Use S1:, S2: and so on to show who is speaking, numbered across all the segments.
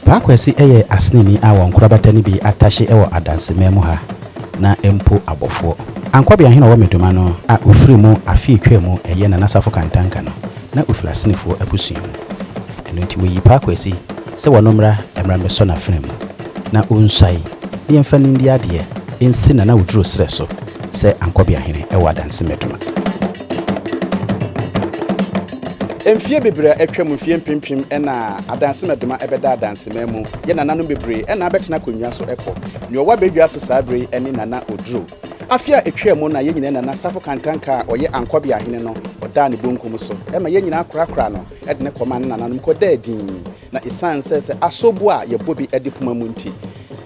S1: Paa Kwasi yɛ aseneni a wɔn nkorabata no bi atahye wɔ Adanseman mu ha, na mpo abɔfoɔ. Ankwabea hene ɔwɔ Medoma no a ɔfiri mu afe atwaa mu yɛ Nana Safo Kantanka no, na ɔfiri Asenefoɔ abusua mu. Ɛno nti wɔyii Paa Kwasi sɛ wɔno mmra mmra mmɛsɔ n'afena mu, na ɔnsuae, na yɛmfa no ndi adeɛ nsi Nana Oduro serɛ so sɛ Ankwabea hene wɔ Adanse Medoma. Mfeɛ bebree a atwa mu, mfeɛ mpempem na adansemɛdoma bɛda adansemɛn mu, yɛ nananom bebree na abɛtena akonnwa so kɔ. Nea ɔwɔ abɛdwa so saa berɛ yi ne Nana Oduro. Afe a ɛtwaa mu no na yɛn nyinaa Nana Safo Kantanka a ɔyɛ Ankwabea Hene no, ɔdaa ne bonkum so ma yɛn nyinaa korakoraa no de no kɔmaa ne nananom kɔdaa dinn. Na esiane sɛ sɛ asobu a yɛbɔ bi de poma mu nti,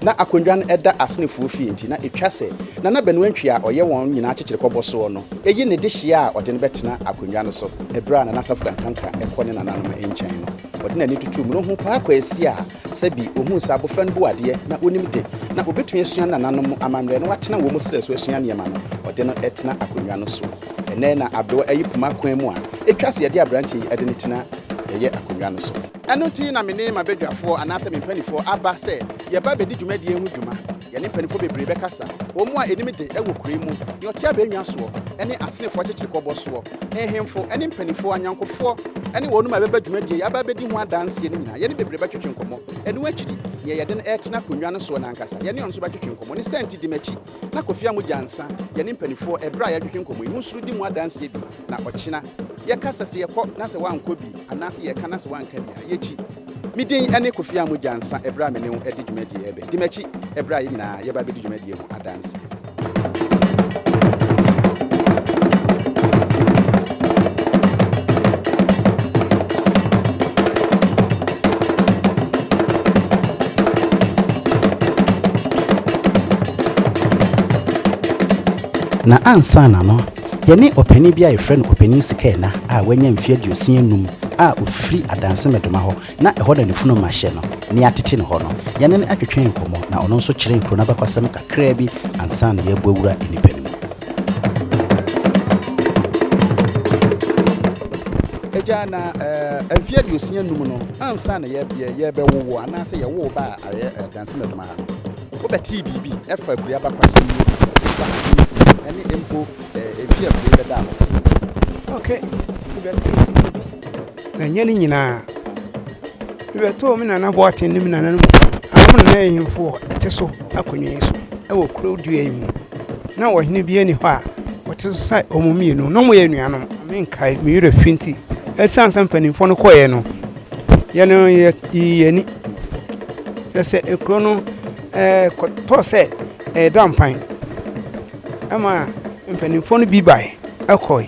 S1: na akonnwa no da Asenefoɔ fie nti, na etwa sɛ na na Benuantwi a ɔyɛ wɔn nyinaa kyekyerɛkɔbɔ soɔ no yi ne dehyeɛ a ɔde no bɛtena akonnwa no so. Ɛberɛ a Nana Asafo Kantanka rekɔ ne nananom nkyɛn no, ɔde n'ani tutuu mu na ɔhuu Paa Kwasi a sɛ bi ɔhuu sɛ abɔfra no bu adeɛ na ɔnim de, na ɔbɛtumi asua nananom amammerɛ na watena wɔn srɛ so asua nneɛma no, ɔde no tena akonnwa no soɔ. Ɛnnɛ na Abdul ayi poma kwan mu a etwa so yɛde aberanteɛ yi de no tena yɛyɛ akonnwa no so. Ɛno nti na me ne m'abadwafoɔ anaasɛ me mpanimfoɔ aba sɛ yɛba bɛdi dwumadie ho dwuma. Yɛne mpanimfoɔ bebree bɛkasa, wɔn mu a anim de wɔ kuro yi mu, deɛ ɔte abannwa soɔ, ne asenefoɔ akyekyerikɔbɔ soɔ, nhemfo ne mpanimfoɔ, anyankofoɔ ne wɔnom a ɛbɛba dwumadie yi aba abɛdi ho adanseɛ no nyinaa yɛne bebree bɛtwetwe nkɔmmɔ. Ɛno akyiri, deɛ yɛde no retena akonnwa no soɔ no ankasa, yɛne ɔno nso bɛtwetwe nkɔmmɔ. Ne saa nti di m'akyi. Na Kofi Amu Gyansa yɛ ne mpanifoɔ ɛberɛ a yɛadwedwe nkɔmmɔ yi. Monsuro di mu adanseɛ bi na ɔkyena yɛka sɛ sɛ yɛkɔ na sɛ woankɔ bi anaa sɛ yɛka na sɛ woanka bi a, yɛkyi. Me din ne Kofi Amu Gyansa ɛberɛ a me ne wo ɛde dwumadie ɛbɛ. Di m'akyi ɛberɛ a yɛn nyinaa yɛba ɛbɛdi dwumadie ho adanseɛ. Na ansaana no, yɛne ɔpanin bi a yɛfrɛ no Ɔpanin Sikaina a wanya mfe aduosia anum a ofiri Adanse Medoma hɔ Na ɛhɔ na ne funuma hyɛ no, na yɛatete no hɔ no. Yɛne no twetwee nkɔmmɔ, na ɔno nso kyerɛɛ kuro no abakɔsɛm kakraa bi ansa na yɛabu awura nnipa no mu. Agya, na mfeɛ aduosia num no, ansa na yɛrebɛwo wo anaasɛ yɛwo wo baa Adansi Madwuma ha no, wobɛtee biribi fa akuraa abakɔsɛm yi ho, fa akansie ho, ne mpo mfeɛ a akuraa yi bɛdaa hɔ? Okay, mebɛtee biribi. Na ɛnyɛ ne nyinaa. Mebɛtoo me Nana Boateng ne me nananom anaa mo nana ahemfo wɔ ɛte so akonnwa yi so wɔ kuro dua yi mu. Na ɔhene biara nni hɔ a ɔte so sɛ wɔn mmienu. Na wɔyɛ anuanom. Menkae, me werɛ fi nti. Ɛsiane sɛ mpanimfoɔ no kɔeɛ no, yɛn no yɛyii yɛn ani. Kyerɛ sɛ, kuro no ɛɛ kɔtɔɔ sɛ ɛreda mpan. Ɛma mpanimfoɔ no bi bae ɛkɔe,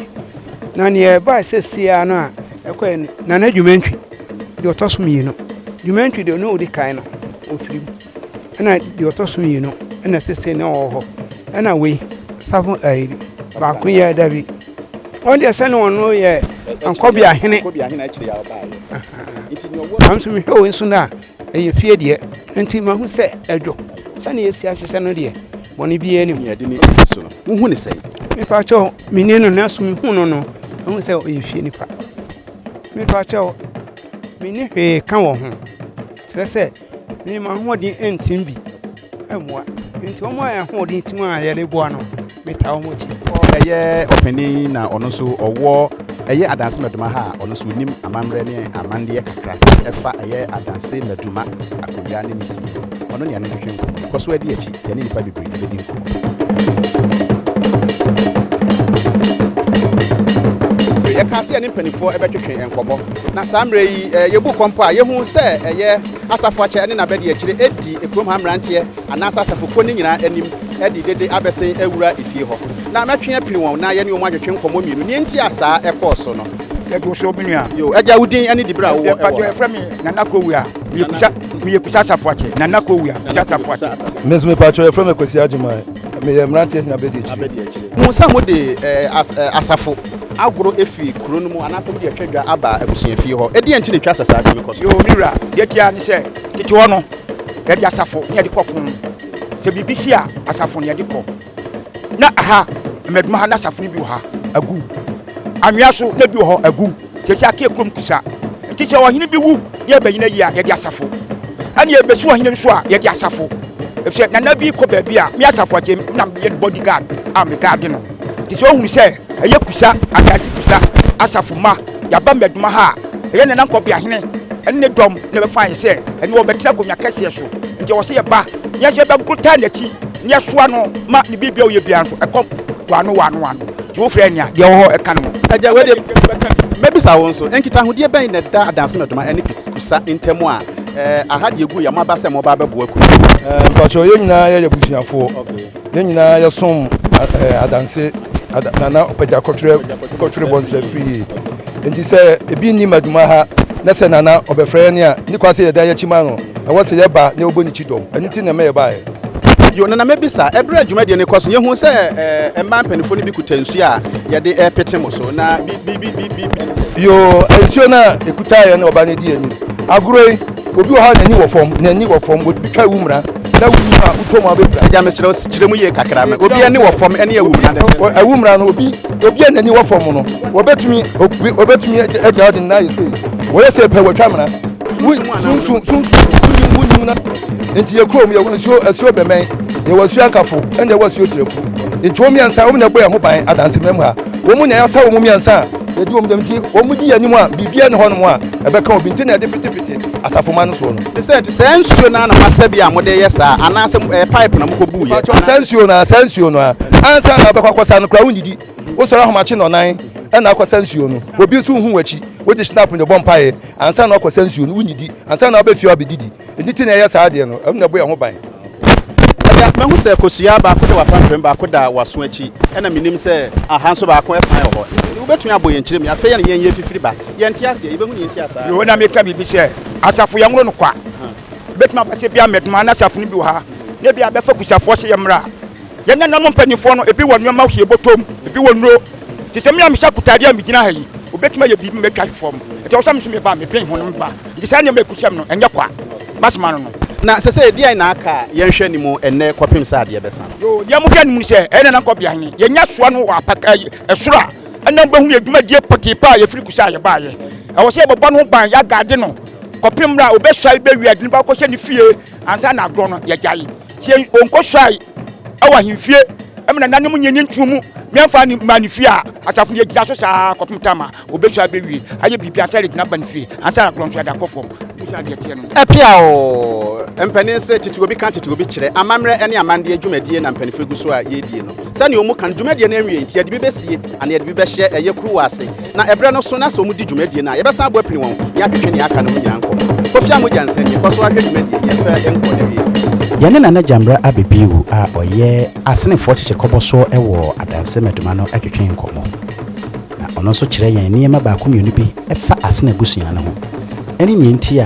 S1: na neɛ ɛbae sɛsie ara no a ɛkɔe ne Nana Dwumantwi, deɛ ɔtɔ so mmienu. Dwumantwi deɛ ɔne ɔdi kan no ɔfiri mu, ɛna deɛ ɔtɔ so mmienu na sɛsie na ɔwɔ hɔ, ɛna wei Safo ɛɛ baako yi a ɛda bi, wɔn deɛ sɛne wɔn no yɛ Ankɔbiahene, nanso mehwɛ wei nso no a. Ɛyɛ fie deɛ, enti mahu sɛ ɛdwo. Sɛdeɛ yɛasi ahyehyɛ no deɛ, bɔne biara nni mu. Nea ɛde ne ti si so no, wuhu no sɛn? Mepa kyɛw, minni no, nanso mihuu no no, mahu sɛ ɔyɛ fie nipa. Mepa kyɛw, minni hwee ka wɔ ho, kyerɛ sɛ, mema m'ahoɔden ntim bi. Mmoa. Nti wɔn a ahoɔden ti mu a yɛde boa no, metaa wɔn akyi. Ɛyɛ ɔpanin na ɔno nso ɔwɔ ɛyɛ adanse mɛdoma ha a ɔno nso onim amammerɛ ne amandeɛ kakra ɛfa ɛyɛ adanse mɛdoma akonnwa ne ne sie ho. Ɔno ne yɛne no twetwe nkɔmmɔ. Kɔ so adi akyi, yɛne nnipa bebree bɛdi nkɔmmɔ. Yɛkaa sɛ yɛne mpaninfoɔ ɛbɛtwetwe nkɔmmɔ. Na saa mmerɛ yi yɛbu kɔmpɔ a, yɛhuu sɛ ɛyɛ. Asafo akyɛ ne n'abadiakyire adi kurom ha mmeranteɛ anaasɛ asafo kuo no nyinaa anim de dede abɛsen awura efie hɔ. Na mɛtwe apini wɔn na yɛne wɔn atwetwe nkɔmmɔ mmienu nea enti a saa ɛkɔɔ so no. Yɛto so me nua. Yoo agya wo din ne dibere a wowɔ wɔ ha. Mpakyɛw yɛfrɛ me Nana Kowia. Meyɛ Kusa meyɛ Kusa Asafo akyɛ. Nana Kowia Kusa Asafo akyɛ. Me nso mepakyɛw yɛfrɛ me Kwasi Agyeman. Meyɛ mmeranteɛ hene abadiakyire. Abadiakyire. Hu sɛ mode as asafo. agoro firi kuro no mu anaasɛ wode atwa dwa aba abusuafie hɔ. Ɛdeɛn nti na ɛtwa sɛ saa tumi kɔ so? Yoo, me wura. Deɛ ɛte ara ne sɛ, tete hɔ no, yɛde asafo na yɛde kɔ ko. Sɛ biribi si a, asafo na yɛde kɔ. Ná ɛha, Mmɛdoma ha, na asafo no bi wɔ ha, agu. Anwea so, na ebi wɔ hɔ, agu. Seesei aka yɛ kurom kusa. Enti sɛ ɔhene bi wu na yɛrebɛyi no ayi a, yɛde asafo. Ɛnna
S2: yɛrebɛsi ɔhene no so a, yɛde asafo. Efisɛ nana bi rekɔ baabi a, me Asafo Akyem na meyɛ ne bodyguard a megaade no. Te sɛ ohun sɛ ɛyɛ Kusa asase Kusa asafo mma yaba mmɛdoma ha a, ɛyɛ Nana Nkɔbea Hene ne ne dɔm na ɛbɛfaa yɛn sɛ ɛne wɔn bɛtra akonwa kɛseɛ so. Nti ɔwɔ sɛ yɛba na yɛhyɛ bɛgoro taa n'akyi na yɛsoa no ma ne biribi a ɔyɛ biara nso ɛkɔ wano wano wano. Nti wo frɛ nea deɛ ɔwɔ hɔ ɛka ne ho. Agya, wei deɛ
S1: mɛbisa wo nso, nkitahodeɛ bɛn na ɛda adanse mmɛdoma ɛne Kusa ntam a aha deɛ gu yɛ moaba sɛ moba abɛboa Kusa? Mpakyɛw yɛn
S3: nyinaa yɛyɛ abusuafoɔ. Yɛn nyinaa yɛsom adanse na na ɔpagya kɔtwerɛ kɔtwerɛ bɔ nsra firi yie nti sɛ ebi nni madwuma ha na sɛ nana ɔbɛfrɛ yɛn a ne kwa sɛ yɛda yɛn akyi ma no ɛwɔ sɛ yɛba na ɔbɔ ne ti dɔm ɛno ti na ɛma yɛbaeɛ. Yo, Nana mɛbisa,
S1: ɛberɛ a dwumadie no kɔ so no yɛhuu sɛ eh, mmaa mpanimfoɔ no bi kuta nsuo a yɛde repete mo so na bi bi bi bi bi ɛne sɛ. Yo, nsuo
S3: no a ɛkutaeɛ no ɔba no di anim agorɔ yi Obi wɔ hɔ a n'ani wɔ fam, n'ani wɔ fam, wotwitwa wo mmura na wuyi no a wotɔ mu a wobɛpira. Agya meserɛ wo kyerɛ mu yie
S1: kakra ma. Obi ani wɔ fam ne awumura no kyerɛ sɛn? Awumura no, obi
S3: obi a n'ani wɔ fam no, wɔbɛtumi obi obɛtumi agyina hɔ de ne nan ayɛ sei, wɔyɛ sei pɛ wɔatwa mmura. Wo sunsum sunsum wonim wonim na nti yɛ kurom yɛwɔ nsuo asuo bɛmɛn, yɛwɔ asuo ankafo ɛna yɛwɔ asuo tirafu nti wɔn mmiɛnsa wɔn na ɛbɔ yɛn ho ban adansemam ha. Wɔn na yɛasa wɔn mmiɛnsa a yɛdi wɔn dɛm nti wɔn di yɛn anim a biribiara nni hɔnom a ɛbɛka obi nti na ɛde petepete asafomma no soɔ no. Te sɛ te saa nsuo no ara
S1: na moasɛ bi a mode reyɛ saa anaasɛ ɛyɛ pipe na mokɔbuu yɛ? Mpakyɛw saa nsuo no ara saa nsuo
S3: no ara ansa na wobɛkɔ akɔsa no koraa wonnidi wosɔre ahomakye nnɔnan ɛna akɔsa nsuo no obi nso nhu w'akyi wogye snap no bɔ mpaeɛ ansa na wakɔsa nsuo no wonnidi ansa na wabɛfie abɛdidi ɛno ti na ɛyɛ saa adeɛ no ɛno na ɛbɔ yɛn ho ban. Ɔde akoma
S1: hu sɛ kosua baako da w'apampam, baako da w'aso akyi, ɛna menim sɛ aha nso baako san wɔ hɔ. Enti wobɛtumi abɔ yɛn kyerɛ mu. Afei yɛne yɛn yɛ fifiri ba. Yɛnte aseɛ. Yɛbɛhu nea enti a saa. Yoo, na mereka biribi sɛ,
S2: Asafo yɛnworo no kwa. Ɛbɛtumi aba sɛ ebia mmɛdoma na asafo no bi wɔ ha, na ebia bɛfa kusafoɔ sɛ yɛmmra. Yɛn nananom mpanimfoɔ no, ebi wɔ nneɛma hwie bɔtɔ mu, ebi wɔ nnuro. Te sɛ me a mehyɛ akotade a megyina ha yi, wɔbɛtumi ayɛ biribi ma matwa fam. Enti ɛwɔ sɛ me nso meba a medwen ho na meba. Enti saa nneɛma a ɛkusiam no, ɛnyɛ kwa. Masoma no no. Na sɛsɛɛ, deɛn na
S1: aka a yɛnhwɛ anim ɛnnɛ kɔpem sɛ adeɛ bɛsa no? Yoo, deɛ mohwɛ anim ne sɛ,
S2: ɛyɛ Nana Nkɔbea Hene. Yɛanya asoa no wɔ apa, ɛɛ, soro a, ɛnna mobɛhunu yɛn dwumadie pɔtee paa a yɛfiri Kusi a yɛbaeɛ. Ɛwɔ sɛ yɛbɛbɔ no ho ban, yɛagaade no kɔpem mmerɛ a ɔbɛsɔre bɛwie ade no, na wakɔhyɛ ne fie ansa na agorɔ no, yɛagyae. Sɛ onkɔsuae wɔ ahemfie ma nananom nyɛ ne ntuo mu meɛmfa ne mmaa ne fie a, asafo no agyina so saa ara kɔpem tam a ɔbɛsua abɛwie ayɛ biribi ansa regina aba ne fie ansa na korɔntoɛ de akɔ fam. Wosua deɛ ɛteɛ no.
S1: Ɛpeaw mpanin se tete obi ka tete obi kyerɛ amammerɛ ne amandeɛ dwumadie na mpaninfoɔ gu so a yɛredie no. Sɛdeɛ wɔn ka no, dwumadie no anwie nti yɛde bi bɛsie anaa yɛde bi bɛhyɛ ɛyɛ kuruwa ase. Na ɛberɛ no so na sɛ wɔdi dwumadie no a, yɛbɛsan abɔ apini wɔn ne atwetwe nea aka no ho nyinaa nkɔ. Kofi Amogya Nsɛn nie, kɔ so ara hwɛ dwumadie no, yɛmfa nkɔ n'awieɛ. Yɛne Nana Gyambrɛ Abebiwu a ɔyɛ Asenefoɔ Kyekyekɔbɔsoɔ wɔ Adanse Maduma no twetwee nkɔmmɔ. Na ɔno nso kyerɛɛ yɛn nneɛma baako mmienu bi fa Asene abusua no ho ne nea nti a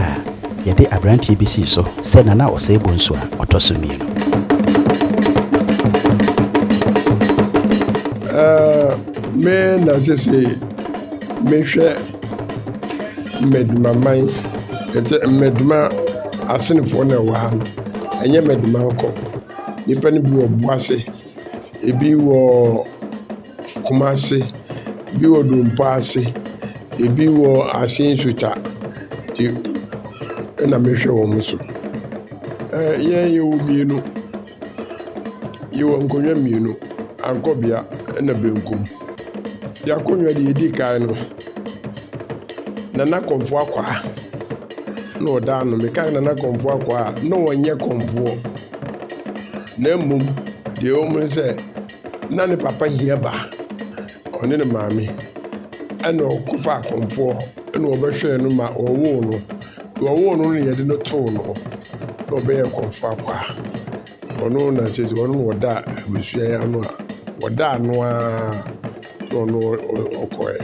S1: yɛde aberanteɛ bi sii so sɛ Nana Osei Bonsu a ɔtɔ so mmienu.
S4: Me na sese mehwɛ Mmadumaman, ɛsɛ Mmaduma asenefoɔ na ɛwɔ ha no, ɛnyɛ Mmaduma nkɔ. Nnipa no bi wɔ Buase, ɛbi wɔ Kumase, ɛbi wɔ Dompaase, ɛbi wɔ Asin Suta nti ɛna mehwɛ wɔn so. Yɛn yɛwɔ mmienu, Yɛwɔ nkonnwa mmienu, tankɔbea na benkum. Deɛ akonnwa deɛ ɛdi kan no, Nana Komfoɔ Akwaa na ɔda ano. Meka Nana Komfoɔ Akwaa a, na ɔnyɛ Komfoɔ na mmom deɛ ɛwɔ mu ne sɛ, na ne papa hia ba, ɔne ne maame ɛna ɔkɔfaa Komfoɔ ɛna ɔbɛhwɛɛ no ma ɔwoo no. Deɛ ɔwoo no no na yɛde no too no hɔ na ɔbɛyɛɛ kɔmfo akwaa. Ɔno na sɛ ɔno na ɔda abusua yi ano a ɔda ano ara na ɔno ɔkɔɛ.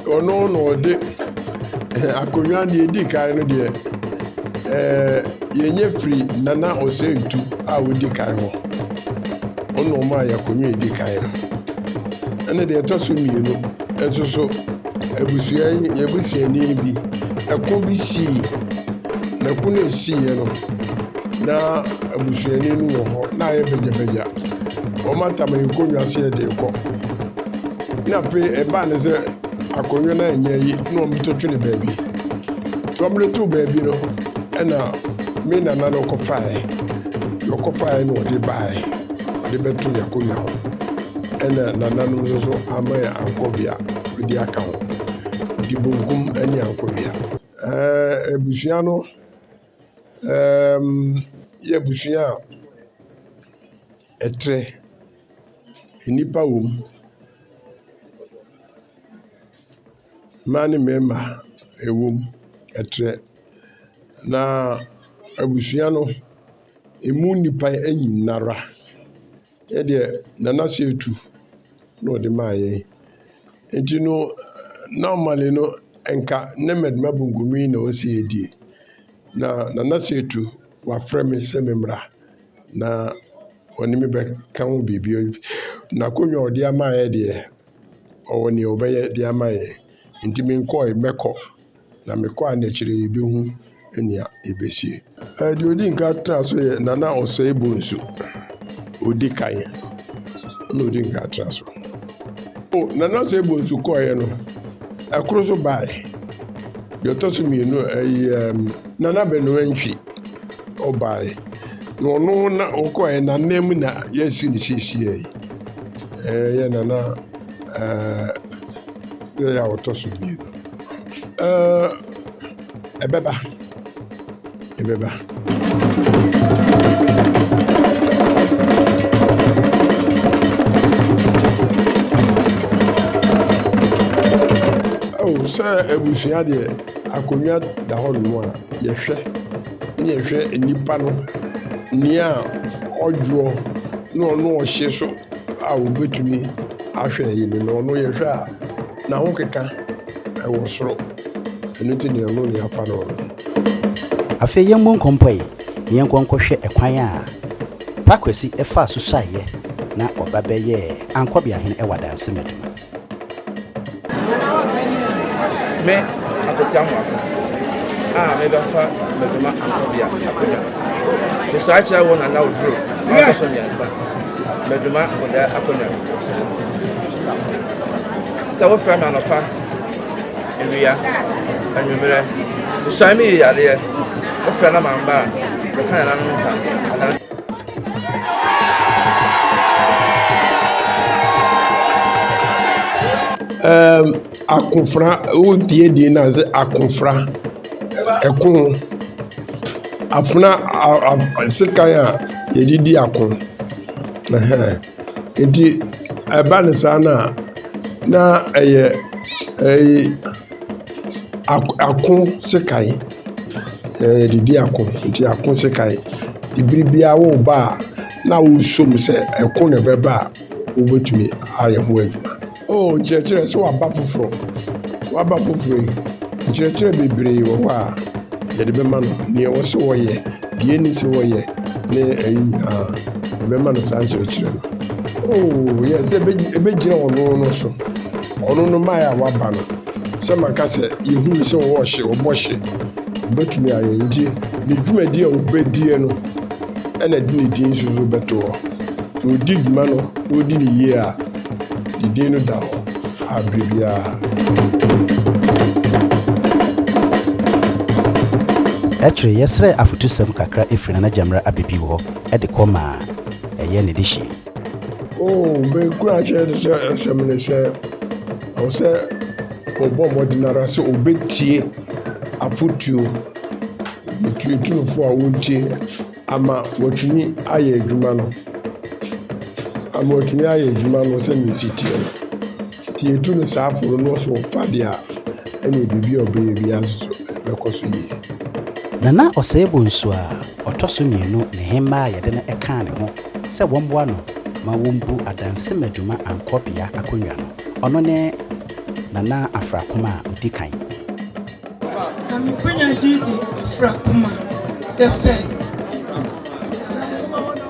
S4: Ɔno na ɔde akonnwa deɛ edi kan no deɛ ɛɛ yɛnyɛ firi Nana Oseitu a ɔdi kan hɔ. Ɔno na ɔmaa yɛ akonnwa edi kan no. Ɛna deɛ ɛtɔ so mmienu nso so. abusua yɛn busuani bi, ɛko bi sii. Na ɛko no a ɛsiiɛ no, na abusuani no wɔ hɔ, na ayɛ bagyabagya. Wɔatam ne nkonnwa sɛ yɛde rekɔ. Na afei ɛbaa no sɛ akonnwa no anyɛ yi na wɔto twe no baabi. Nti wɔde too baabi no, ɛna me nana no kɔfaeɛ. Na ɔkɔfaeɛ na ɔde baeɛ, ɔde bɛto yɛn akonnwa ho. Ɛna nananom nso so amma yɛn ankɔ bea. de aka ho. Ɔde benkum ne ankonea. Ɛɛ abusua no ɛɛm yɛ abusua a ɛtrɛ. Nnipa wɔ mu, mmaa ne mmarima wɔ mu, ɛtrɛ. Na abusua no, ɛmu nnipa nyinara. Ɛdeɛ Nana sɛ etu na ɔde maa yɛn nti no normally no nka ne mɛdema bunkumi na ɔsɛ yɛdie na Nana sɛ etu wafrɛ me sɛ me mmra na ɔne me bɛka ho biribi n'akonnwa ɔde ama yɛ deɛ ɔwɔ nea ɔbɛyɛ de ama yɛn nti menkɔe mɛkɔ. Na me kɔ a na akyire yi yɛbɛhu nea yɛbɛsie. Ɛɛ deɛ ɔdi nka tra so yɛ Nana Ɔsɛe Bonsu. Ɔdi kan na ɔdi nka tra so. O Nana Ɔsɛe Bonsu kɔeɛ no, ɛkoro so baeɛ. Deɛ ɔtɔ so mmienu ɛyɛ Nana Benoa Ntwi ɔbaeɛ. Na ɔno na ɔkɔeɛ na nan mu na yɛasi ne siesie yi. Ɛyɛ Nana ɛɛ yɛ a ɔtɔ so mmienu. Uh, ɛbɛba, ɛbɛba. Oh, sɛ abusua deɛ akonnwa da hɔ nom a yɛhwɛ ne yɛhwɛ nnipa no nea ɔdwoɔ na ɔno ɔhye so a wɔbɛtumi ahwɛ yi no na ɔno yɛhwɛ a N'ahokeka wɔ soro. Ɛno nti deɛ ɔno deɛ afa no no.
S1: Afei yɛmmɔ nkɔmpɔe na yɛnkɔ nkɔhwɛ kwan a Pa Kwasi faa so suaeɛ na ɔba bɛyɛɛ Ankɔbeahene wɔ Adansi mu adwuma.
S5: Me, Akwasi Amoako, a mebɛfa Madwuma Ankɔbea akonnwa no, mesɔre kyerɛ wo Nana Oduro a ɔtɔ so mmiɛnsa, Madwuma Bodae akonnwa no. Sɛ wofrɛ me anɔpa, awia, anwummerɛ, suan me yi yareɛ. Wofrɛ na mamba a, meka nananom ntam, adanse.
S4: Ɛɛm, akofena, wotie din no a, sɛ akofena, ɛko, afena, a, a, sekan a yɛde di ako. Ɛhɛn. Enti ɛba no saa no a, na ɛyɛ ɛyi ako ako sekan. Yɛde di ako nti ako sekan. Bere biara woreba a na wosuo mu sɛ ɛko na ɛbɛba a wobɛtumi ayɛ ho adwuma. Oh, kyerɛkyerɛ sɛ waba foforɔ. Waba foforɔ yi, nkyerɛkyerɛ bebree wɔ hɔ a yɛde bɛma no. Nea ɛwɔ sɛ wɔyɛ, deɛ ɛni sɛ wɔyɛ, ne ɛyi nyinaa, yɛbɛma no saa nkyerɛkyerɛ no. Oh, yɛ sɛ ɛbɛgyina ɔno no so. Ɔno no maa a waba no. Sɛ maka sɛ yɛhunu sɛ ɔwɔ hye, ɔbɔ hye. Ɔbɛtumi ayɛ nti ne dwumadi a ɔbɛdie no ɛna de ne din nso bɛto hɔ. Ɔdi dwuma no, ɔdi ne yie a. Ne din no da hɔ a bere biara.
S1: Akyire yɛsrɛɛ afotusɛm kakra firi Nana Gyamira Abibio hɔ de kɔ maa ɛyɛ ne dehyeɛ. Oh,
S4: me nkuranhyɛ ne sɛ asɛm ne sɛ ɛwɔ sɛ ɔbɔ mmɔden ara sɛ ɔbɛtie afotuo ɛtuo tunufoɔ a wɔntie Ama wɔatumi ayɛ adwuma no, ama wɔatumi ayɛ adwuma no sɛdeɛ ɛsi teɛ no, nti yɛtu no saa fo no na ɔso ɔfa deɛ a, ɛneɛ biribi a ɔbɛyɛ biara nso so ɛbɛkɔ so yie. Nana
S1: Osei-Bonsu a ɔtɔ so mmienu nehemmaa a yɛde no kaa ne ho sɛ wɔmmoa no ma wɔmbu adansimadwuma ankɔbea akonnwa no. Ɔno ne Nana Afrakoma a ɔdi kan. Na me kwanya
S6: din de Afra Kumah the first.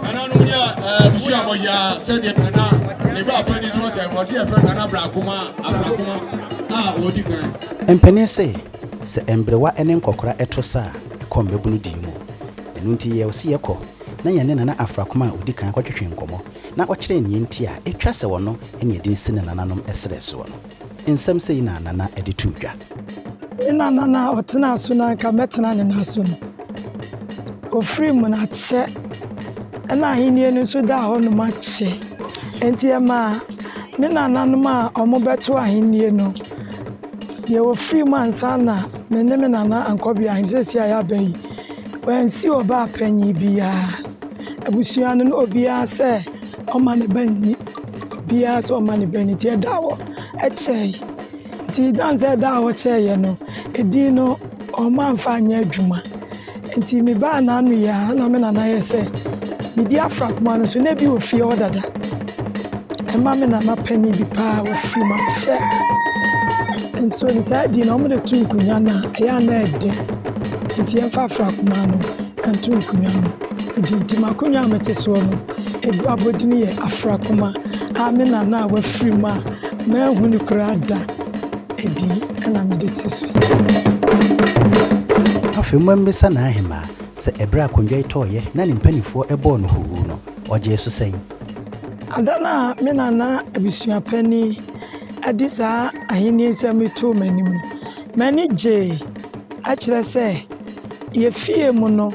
S6: Nana no yɛ busu abɔyɛ sɛdeɛ nana ne ba panyin so sɛ wɔsi ɛfɛ nana bra kuma afra kuma a wɔdi kan. Mpanin se,
S1: sɛ mberewa ne nkɔkora to sa a, kɔ mmabunu die mu. Ɛno nti yɛɛ ɔse yɛkɔ na yɛne Nana Afra Kumah a ɔdi kan kɔtwetwe nkɔmmɔ na ɔkyerɛɛ nea nti a etwa sɛ ɔno ne edin si ne nananom serɛ soɔ no. Nsɛm sei na Nana de too dwa.
S7: Nna Nana a ɔtenaa so no anka
S1: mɛtena
S7: ne nan so no, ɔfirii mu no akyɛ, ɛnna ahennie no nso daa hɔnom akyɛ. Enti ɛmaa me nananom a wɔbɛto ahennie no, deɛ wɔfirii mu ansa na me ne me nana ankɔ beahe no, seesei a yɛaba yi, wɔansi ɔbaa panyin biara. Abusua no no obiara sɛ Ɔma ne ba nni. Obiara sɛ ɔma ne ba nni nti ɛda hɔ kyɛe. Nti dan sɛ ɛda hɔ kyɛeɛ no, edin no ɔma mfa nyɛ adwuma. Nti me ba n'ano yɛ a na me nana yɛ sɛ medi afra kuma no so na ebi wɔ fie hɔ dada. Ɛma me nana panin bi paa ofiri mu ahyɛ nso ne saa din no wɔde to nkonnwa no a ɛyɛ a na ɛde. Nti ɛmfa afra kuma no nto nkonnwa no. Edi nti m'akonnwa a mete soɔ no Adu abodin yɛ afra kuma a me nana a wafiri mu a manhu no koraa da adi na mede te so
S1: yi. Afei mommisa n'ahemaa sɛ ɛberɛ a akondwa yi tɔeɛ na ne mpanimfoɔ bɔɔ no huuhuu no, ɔgyee so sɛn? Ada no a
S7: me nana abusua panin de saa ahennie nsɛm yi too m'anim no, m'ani gyee. Ɛkyerɛ sɛ yɛn fie mu no,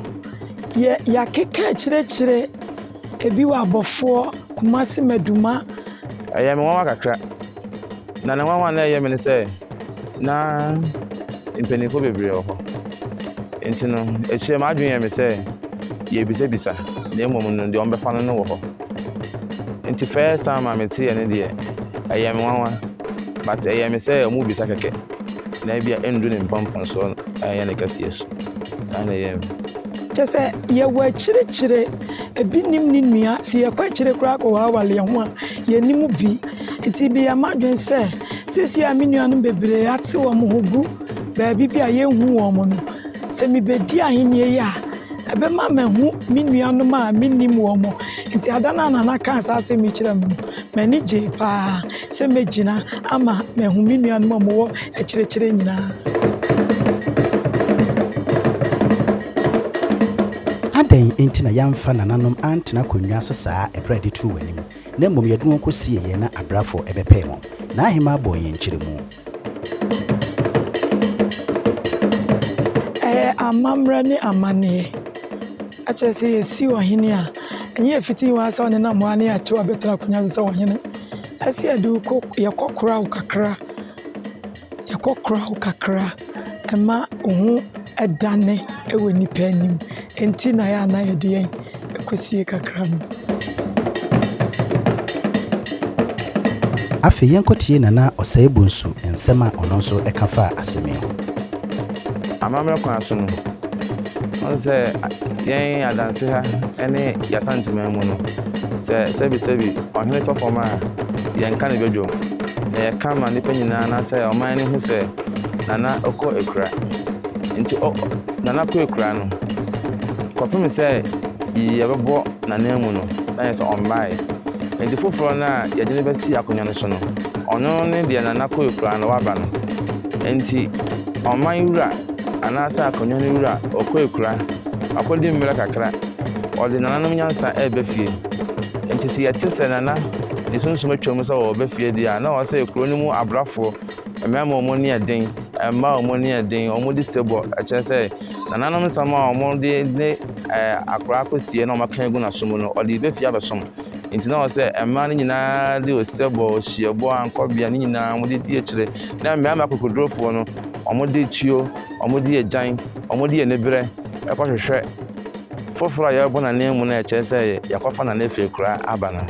S7: yɛ yɛakeka akyerɛkyerɛ ebi wɔ abɔfoɔ kumase maduma. ɛyɛ me nwanwa
S5: kakra na ne nwanwa na ɛyɛ me ne sɛ na mpanimfoɔ bebree wɔ hɔ nti no akyire m'adwene yɛ me sɛ yɛbisabisa na mmom no deɛ wɔbɛfa no no wɔ hɔ nti first time a mete yɛ ne deɛ ɛyɛ me nwanwa but ɛyɛ me sɛ wɔn bisa kɛkɛ. na ebi a ɛndu ne mpɔmpɔnsoɔ no a ɛyɛ ne kɛseɛ so. Saa na ɛyɛ me. Kyɛ sɛ
S7: yɛwɔ akyirikyire, ebi nim ne nua, sɛ yɛkɔ akyire koraa kɔ wɔ awale ho a, yɛnim bi. Nti meyɛ m'adwene sɛ, seesei a me nuanom bebree ate wɔn ho gu baabi bi a yɛnhu wɔn no, sɛ mebɛdi ahennie yi a, ɛbɛma mahu me nuanom a mennim wɔn. Nti ada no a Nana kaa saa asɛm yi kyerɛɛ me no, m'ani gyee paa. Sɛ megyina ama mahu me nuanom a wɔwɔ akyirikyiri nyinaa.
S1: Adɛn nti na yɛamfa nananom antena akonnwa so saa ɛberɛ a yɛde too wɔn anim, na mmom yɛde wɔn kɔsiee yɛn na abrɛafoɔ bɛpɛɛ wɔn? N'ahemmaa bɔɔ yɛn nkyerɛmu.
S7: Ɛyɛ amammerɛ ne amanneɛ. Ɛkyerɛ sɛ yɛsi ɔhene a, ɛnyɛ ɛfiti hɔ ara sɛ ɔnenam hɔ ara ne yɛato abɛtena akonnwa so sɛ ɔhene. Ɛsɛ yɛde wo kɔ yɛkɔkora wo kakra, yɛkɔkora wo kakra ma wo ho dane wɔ nnipa anim. Ɛnti na ɛyɛ a na yɛde yɛn Ɛkwasie kakra bi.
S1: Afei yɛnkɔtie Nana Osei-Bonsu nsɛm a ɔno nso ka faa asɛm yi ho.
S5: Amammerɛ kwan so no, wohu sɛ yɛn adanse ha ne yɛn Asanteman mu no, sɛ sɛbisɛbi ɔhene tɔ fam a, yɛn ka ne badwam, na yɛka ma nnipa nyinaa anaasɛ ɔman no hu sɛ Nana kɔ akura. Nti ɔ. Nana kɔ akuraa no kɔpem sɛ yɛbɛbɔ n'ananmu no na yɛ sɛ ɔmmaeɛ. Enti foforɔ no a yɛde no bɛsi akonnwa no so no, ɔno ne deɛ Nana kɔ akuraa no waba no. Enti ɔman wura anaasɛ akonnwa no wura ɔkɔ akuraa, wakɔdi mmerɛ kakra, ɔde nananom nyansa reba fie. Enti sɛ yɛte sɛ Nana de sunsum atwam sɛ ɔreba fie deɛ a, na ɔsɛ kuro no mu abrafoɔ Mmarima a wɔn ani yɛ den, mmaa a wɔn ani yɛ den, wɔde sebɔ kyerɛ sɛ nananom nsɛm a wɔde ne ɛɛ akwadaa akɔsie na wɔaka agu n'asom no, ɔde reba fie abɛsom. Nti na ɔwɔ sɛ mmaa no nyinaa de osebɔ, ohyiebɔ, ankɔbea ne nyinaa wɔde di akyire. Na mmarima akokoɔdurofoɔ no, wɔde tuo, wɔde agyan, wɔde aniberɛ kɔhwehwɛ foforɔ a yɛrebɔ no ananmu no a ɛkyerɛ sɛ yɛakɔfa no anafeakuraa aba no.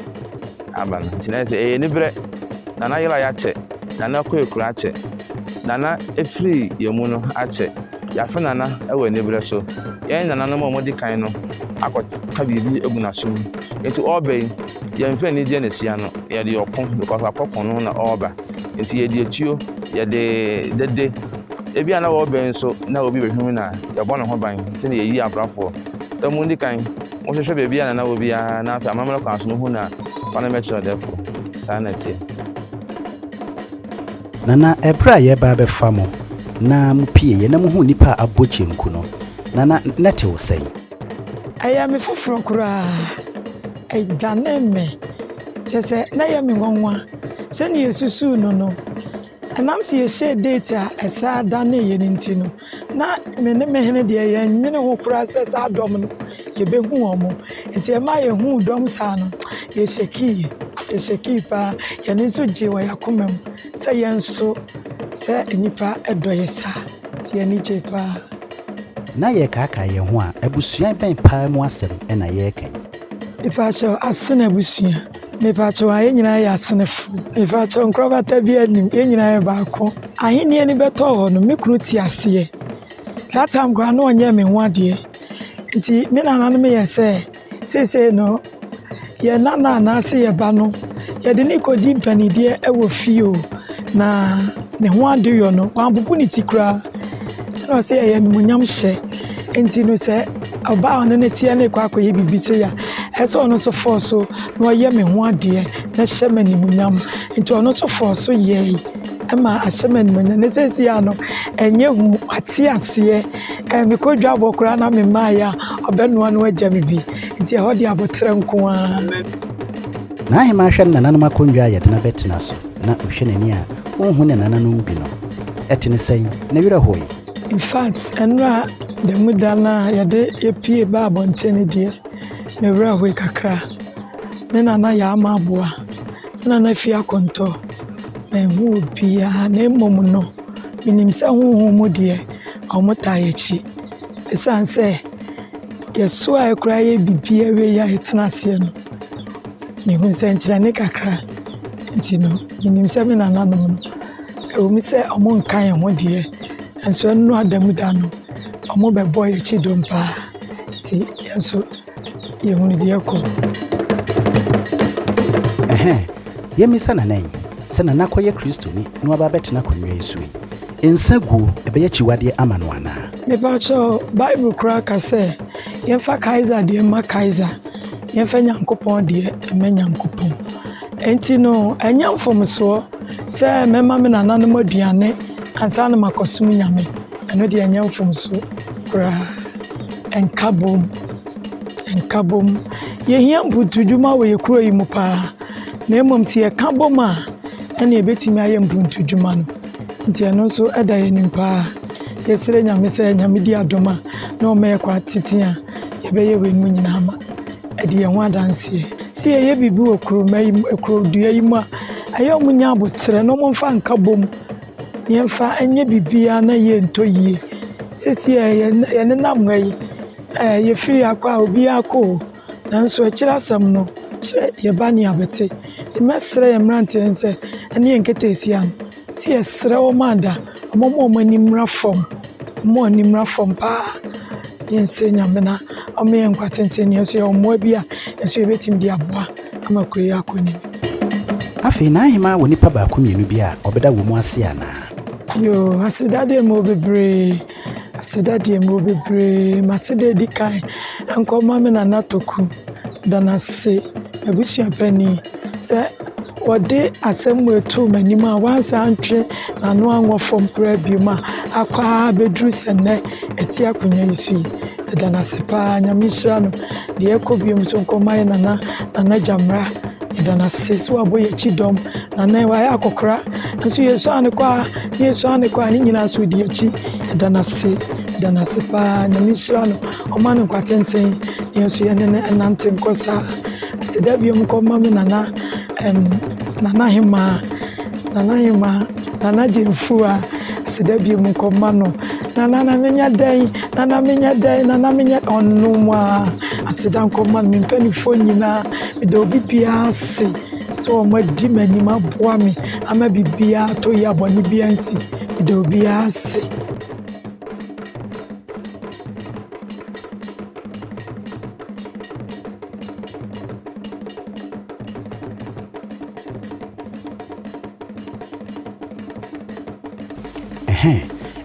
S5: aba no nti na ɛsɛ ɛyɛ aniberɛ na na yera yɛakyɛ na na kɔ ekuro akyɛ na na efiri yɛn mu no akyɛ yɛafe nana ɛwɔ aniberɛ so yɛn nananom a wɔdi kan no akɔ ka biribi egu n'aso mu nti ɔreba yi yɛn fɛ anigyeɛ na ehyia no yɛde ɔko because wakɔ ko no na ɔreba nti yɛde etuo yɛde dede ebi a na wɔreba yi nso na obi bɛhwim na yɛbɔ ne ho ban sɛdeɛ yɛyi abrafoɔ sɛ mo ndi kan Wo hwehwɛ baabi a nana wɔ bi ara na afei amammerɛ kwan so no hu no a, fa no mmɛkyerɛ ɔdɛɛfo. Saa na ɛteɛ.
S1: Nana, ɛberɛ a yɛreba abɛfa mo na mo pieeɛ na mo huu nnipa a abɔ kyenku no, nana, na ɛte wo sɛn? Ɛyɛɛ
S7: me foforɔ koraa. Ɛdanee me. Kyerɛ sɛ, na ɛyɛ me nwanwa. Sɛdeɛ yɛsusuu no no, ɛnam sɛ yɛhyɛɛ date a ɛsan danee yɛn nti no, Na me ne me hene deɛ, yɛnnwene ho koraa sɛ saa dɔm no, yɛbɛhu wɔn. Nti ɛmaa yɛhuu dɔm saa no, yɛhyɛkiiɛ. Yɛhyɛkii pa ara. Yɛn ani nso gyee wɔ yɛn akoma mu sɛ yɛn nso, sɛ nnipa dɔ yɛn saa. Nti yɛn ani gyee pa ara. Na
S1: yɛrekaakae yɛn ho a, abusua bɛn pa ara mu asɛm na yɛreka yi? Mepa wo kyɛw,
S7: Asena abusua. Mepakyɛw, a yɛn nyinaa yɛ asenefo? Mepakyɛw, nkorabata biara nnim, yɛn nyinaa yɛ baako. Ahenni ani bɛtɔɔ hɔ no, me kunu te aseɛ. That time koraa na ɔnyɛɛ me ho adeɛ. Nti me nananom yɛ sɛ seesei no yɛn nana anaase yɛn ba no yɛde ne kɔdi mpanideɛ wɔ fie o na ne ho adeyɔ no wɔabobo ne ti koraa ɛna ɔsɛ yɛyɛ animuonyam hyɛ nti no sɛ ɔbaa a ɔne no teɛ no rekɔ akɔyɛ biribi sei a ɛsɛ sɛ ɔno nso fɔɔ so na ɔyɛ me ho adeɛ na hyɛ me animuonyam nti ɔno nso fɔɔ so yɛe ɛma ahyɛ me animuonyam ne sɛsi a no ɛnyɛ hu ate aseɛ ɛɛ mekɔ dwabɔ koraa na me mmaeɛ a ɔbɛnoa no agya me bi nti ɛhɔ de aboterɛ nko ara.
S1: N'ahemmaa hwɛ ne nananom akonnwa a yɛdena bɛtena so na ɔhwɛ n'ani a ɔnhu ne nananom bi no ɛte ne sɛn? Ne werɛ hoe? Infact
S7: ɛnora dɛm da no a yɛde yɛpue baa abɔnten no deɛ me werɛ hoe kakra. Me nana yɛ ama aboa, me nana fie akɔntɔ, manhu obiara na mmom no menim sɛ honhom mu deɛ wɔtaa yɛakyi ɛsiane sɛ yɛsoɛɛ koraa yɛɛ biribiara wieɛ a yɛtena aseɛ no. Mehu nsɛnkyerɛnne kakra, nti no, menim sɛ me nananom no, ɛwom sɛ wɔnka yɛn ho deɛ, nanso ɛnnuru ada mu da no, wɔbɛbɔ yɛn akyi dɔm pa ara. Nti yɛn nso, yɛhunu deɛ ɛrekɔ so.
S1: Ɛhɛn, yɛmmisa Nana yi sɛ Nana kɔyɛ Kristoni na waba abɛtena akonnwa yi so yi, nsa guo bɛyɛ akyiwadeɛ ama no anaa? Mepaakyɛw,
S7: Bible koraa ka sɛ yɛmfa Kaesar deɛ mma Kaesar, Yɛmfa Nyankopɔn deɛ mma Nyankopɔn. Enti no, ɛnyɛ mfomsoɔ sɛ mɛma me nananom aduane ansa na makɔsom Nyame. Ɛno deɛ ɛnyɛ mfomsoɔ koraa. Nkabom, nkabom. Yɛhia mpuntudwuma wɔ yɛ kuro yi mu paa. Na mmom sɛ yɛka bom a, ɛne ɛbɛtumi ayɛ mpuntudwuma no. Nti ɛno nso ɛda yɛn anim paa. Yɛsrɛ Nyame sɛ Nyame di adom a na ɔma yɛ kɔ atete a yɛbɛyɛ weinom nyinaa ma adi yɛn ho adanseɛ. Sɛ yɛyɛ biribi wɔ kuroma yi mu kurodua yi mu a, ɛyɛ a wɔnya aboterɛ na wɔmfa nka bom na yɛmfa nyɛ biribiara na yie ntɔ yie. Seesei ara yɛn yɛnenam ha yi, ɛɛ yɛfiri ha kɔ a, obiara kɔ o, nanso akyire asɛm no, kyerɛ yɛn ba ne yɛn abɛte. Nti mɛsrɛ yɛn mmeranteɛ no sɛ ɛne yɛn nketeesia no. Nti yɛsrɛ wɔn a da wɔn ma wɔn ani mmra fam wɔn ma wɔn ani mmra fam paa yɛnsrɛ nyame na ɔma yɛn nkwa tenten na yɛn nso yɛwɔ mmoa bi a yɛn nso yɛbɛtumi de aboa ama kuro yi akɔ anim. Afei
S1: na ahemaa wɔ nipa baako mmienu bi a ɔbɛda wɔ mu ase anaa? Yoo,
S7: aseda deɛ mewɔ bebree. Aseda deɛ mewɔ bebree. Maseda adi kan nkɔma me nana Toku da no ase, m'abusua panin sɛ wɔde asɛm wei too m'anim a wansan antwe n'ano anwɔ fam koraa biom a akɔ ara abɛduru sɛ nnɛ ɛte akonnwa yi so yi. Meda no ase paa, Nyame nhyira no. Deɛ ɛkɔ biom nso nkɔma yɛ nana nana Gyamra. Meda no ase sɛ wabɔ yɛn akyi dɔm. Nana yi wayɛ akɔkora nso yɛsuaa no kɔ a Fie so ara na ɛkɔ a ne nyinaa so ɔdi akyi ɛda no ase ɛda no ase paa nyame nhyira no ɔma no nkwa tenten yɛn nso yɛne no ɛnante nkɔ saa ɛsɛ da biom kɔ ma me nana ɛm nana hemaa nana hemaa nana gyemfua ɛsɛ da biom kɔ ma no nana na menya dɛn nana menya dɛn nana menya ɔnom a aseda nkɔ ma no me mpanimfoɔ nyinaa meda obi biara ase sɛ wɔadi m'anim aboa me ama biribiara atɔ yie a bɔne biara ansi. Meda obiara ase.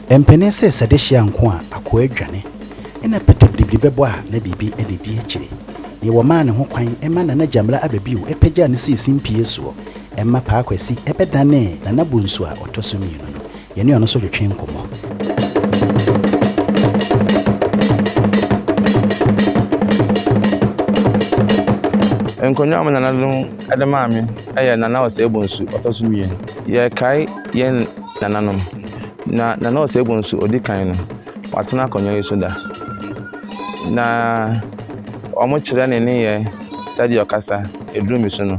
S1: Ɛmpene sɛ sɛ de hyia nko a akoa dwane. Nna Peter biribiri bɛbɔ a na biribi na edi akyire. Nea wɔmaa ne ho kwan ma Nana Gyamila aba bio pagyaa no sii simpie soɔ ma Paa Kwasi bɛdanee Nana Bonsu a ɔtɔ so mmienu no. Yɛne ɔno nso twetwee nkɔmmɔ.
S5: Nkonnwa a me nananom de maa me yɛ Nana Osei Bonsu ɔtɔ so mmienu. Yɛkae yɛn nananom,
S8: na Nana Osei Bonsu ɔdi kan no. Watena akonnwa yi so da, na wɔkyerɛ ne nneyɛe sɛdeɛ ɔkasa, ɛduru me so no,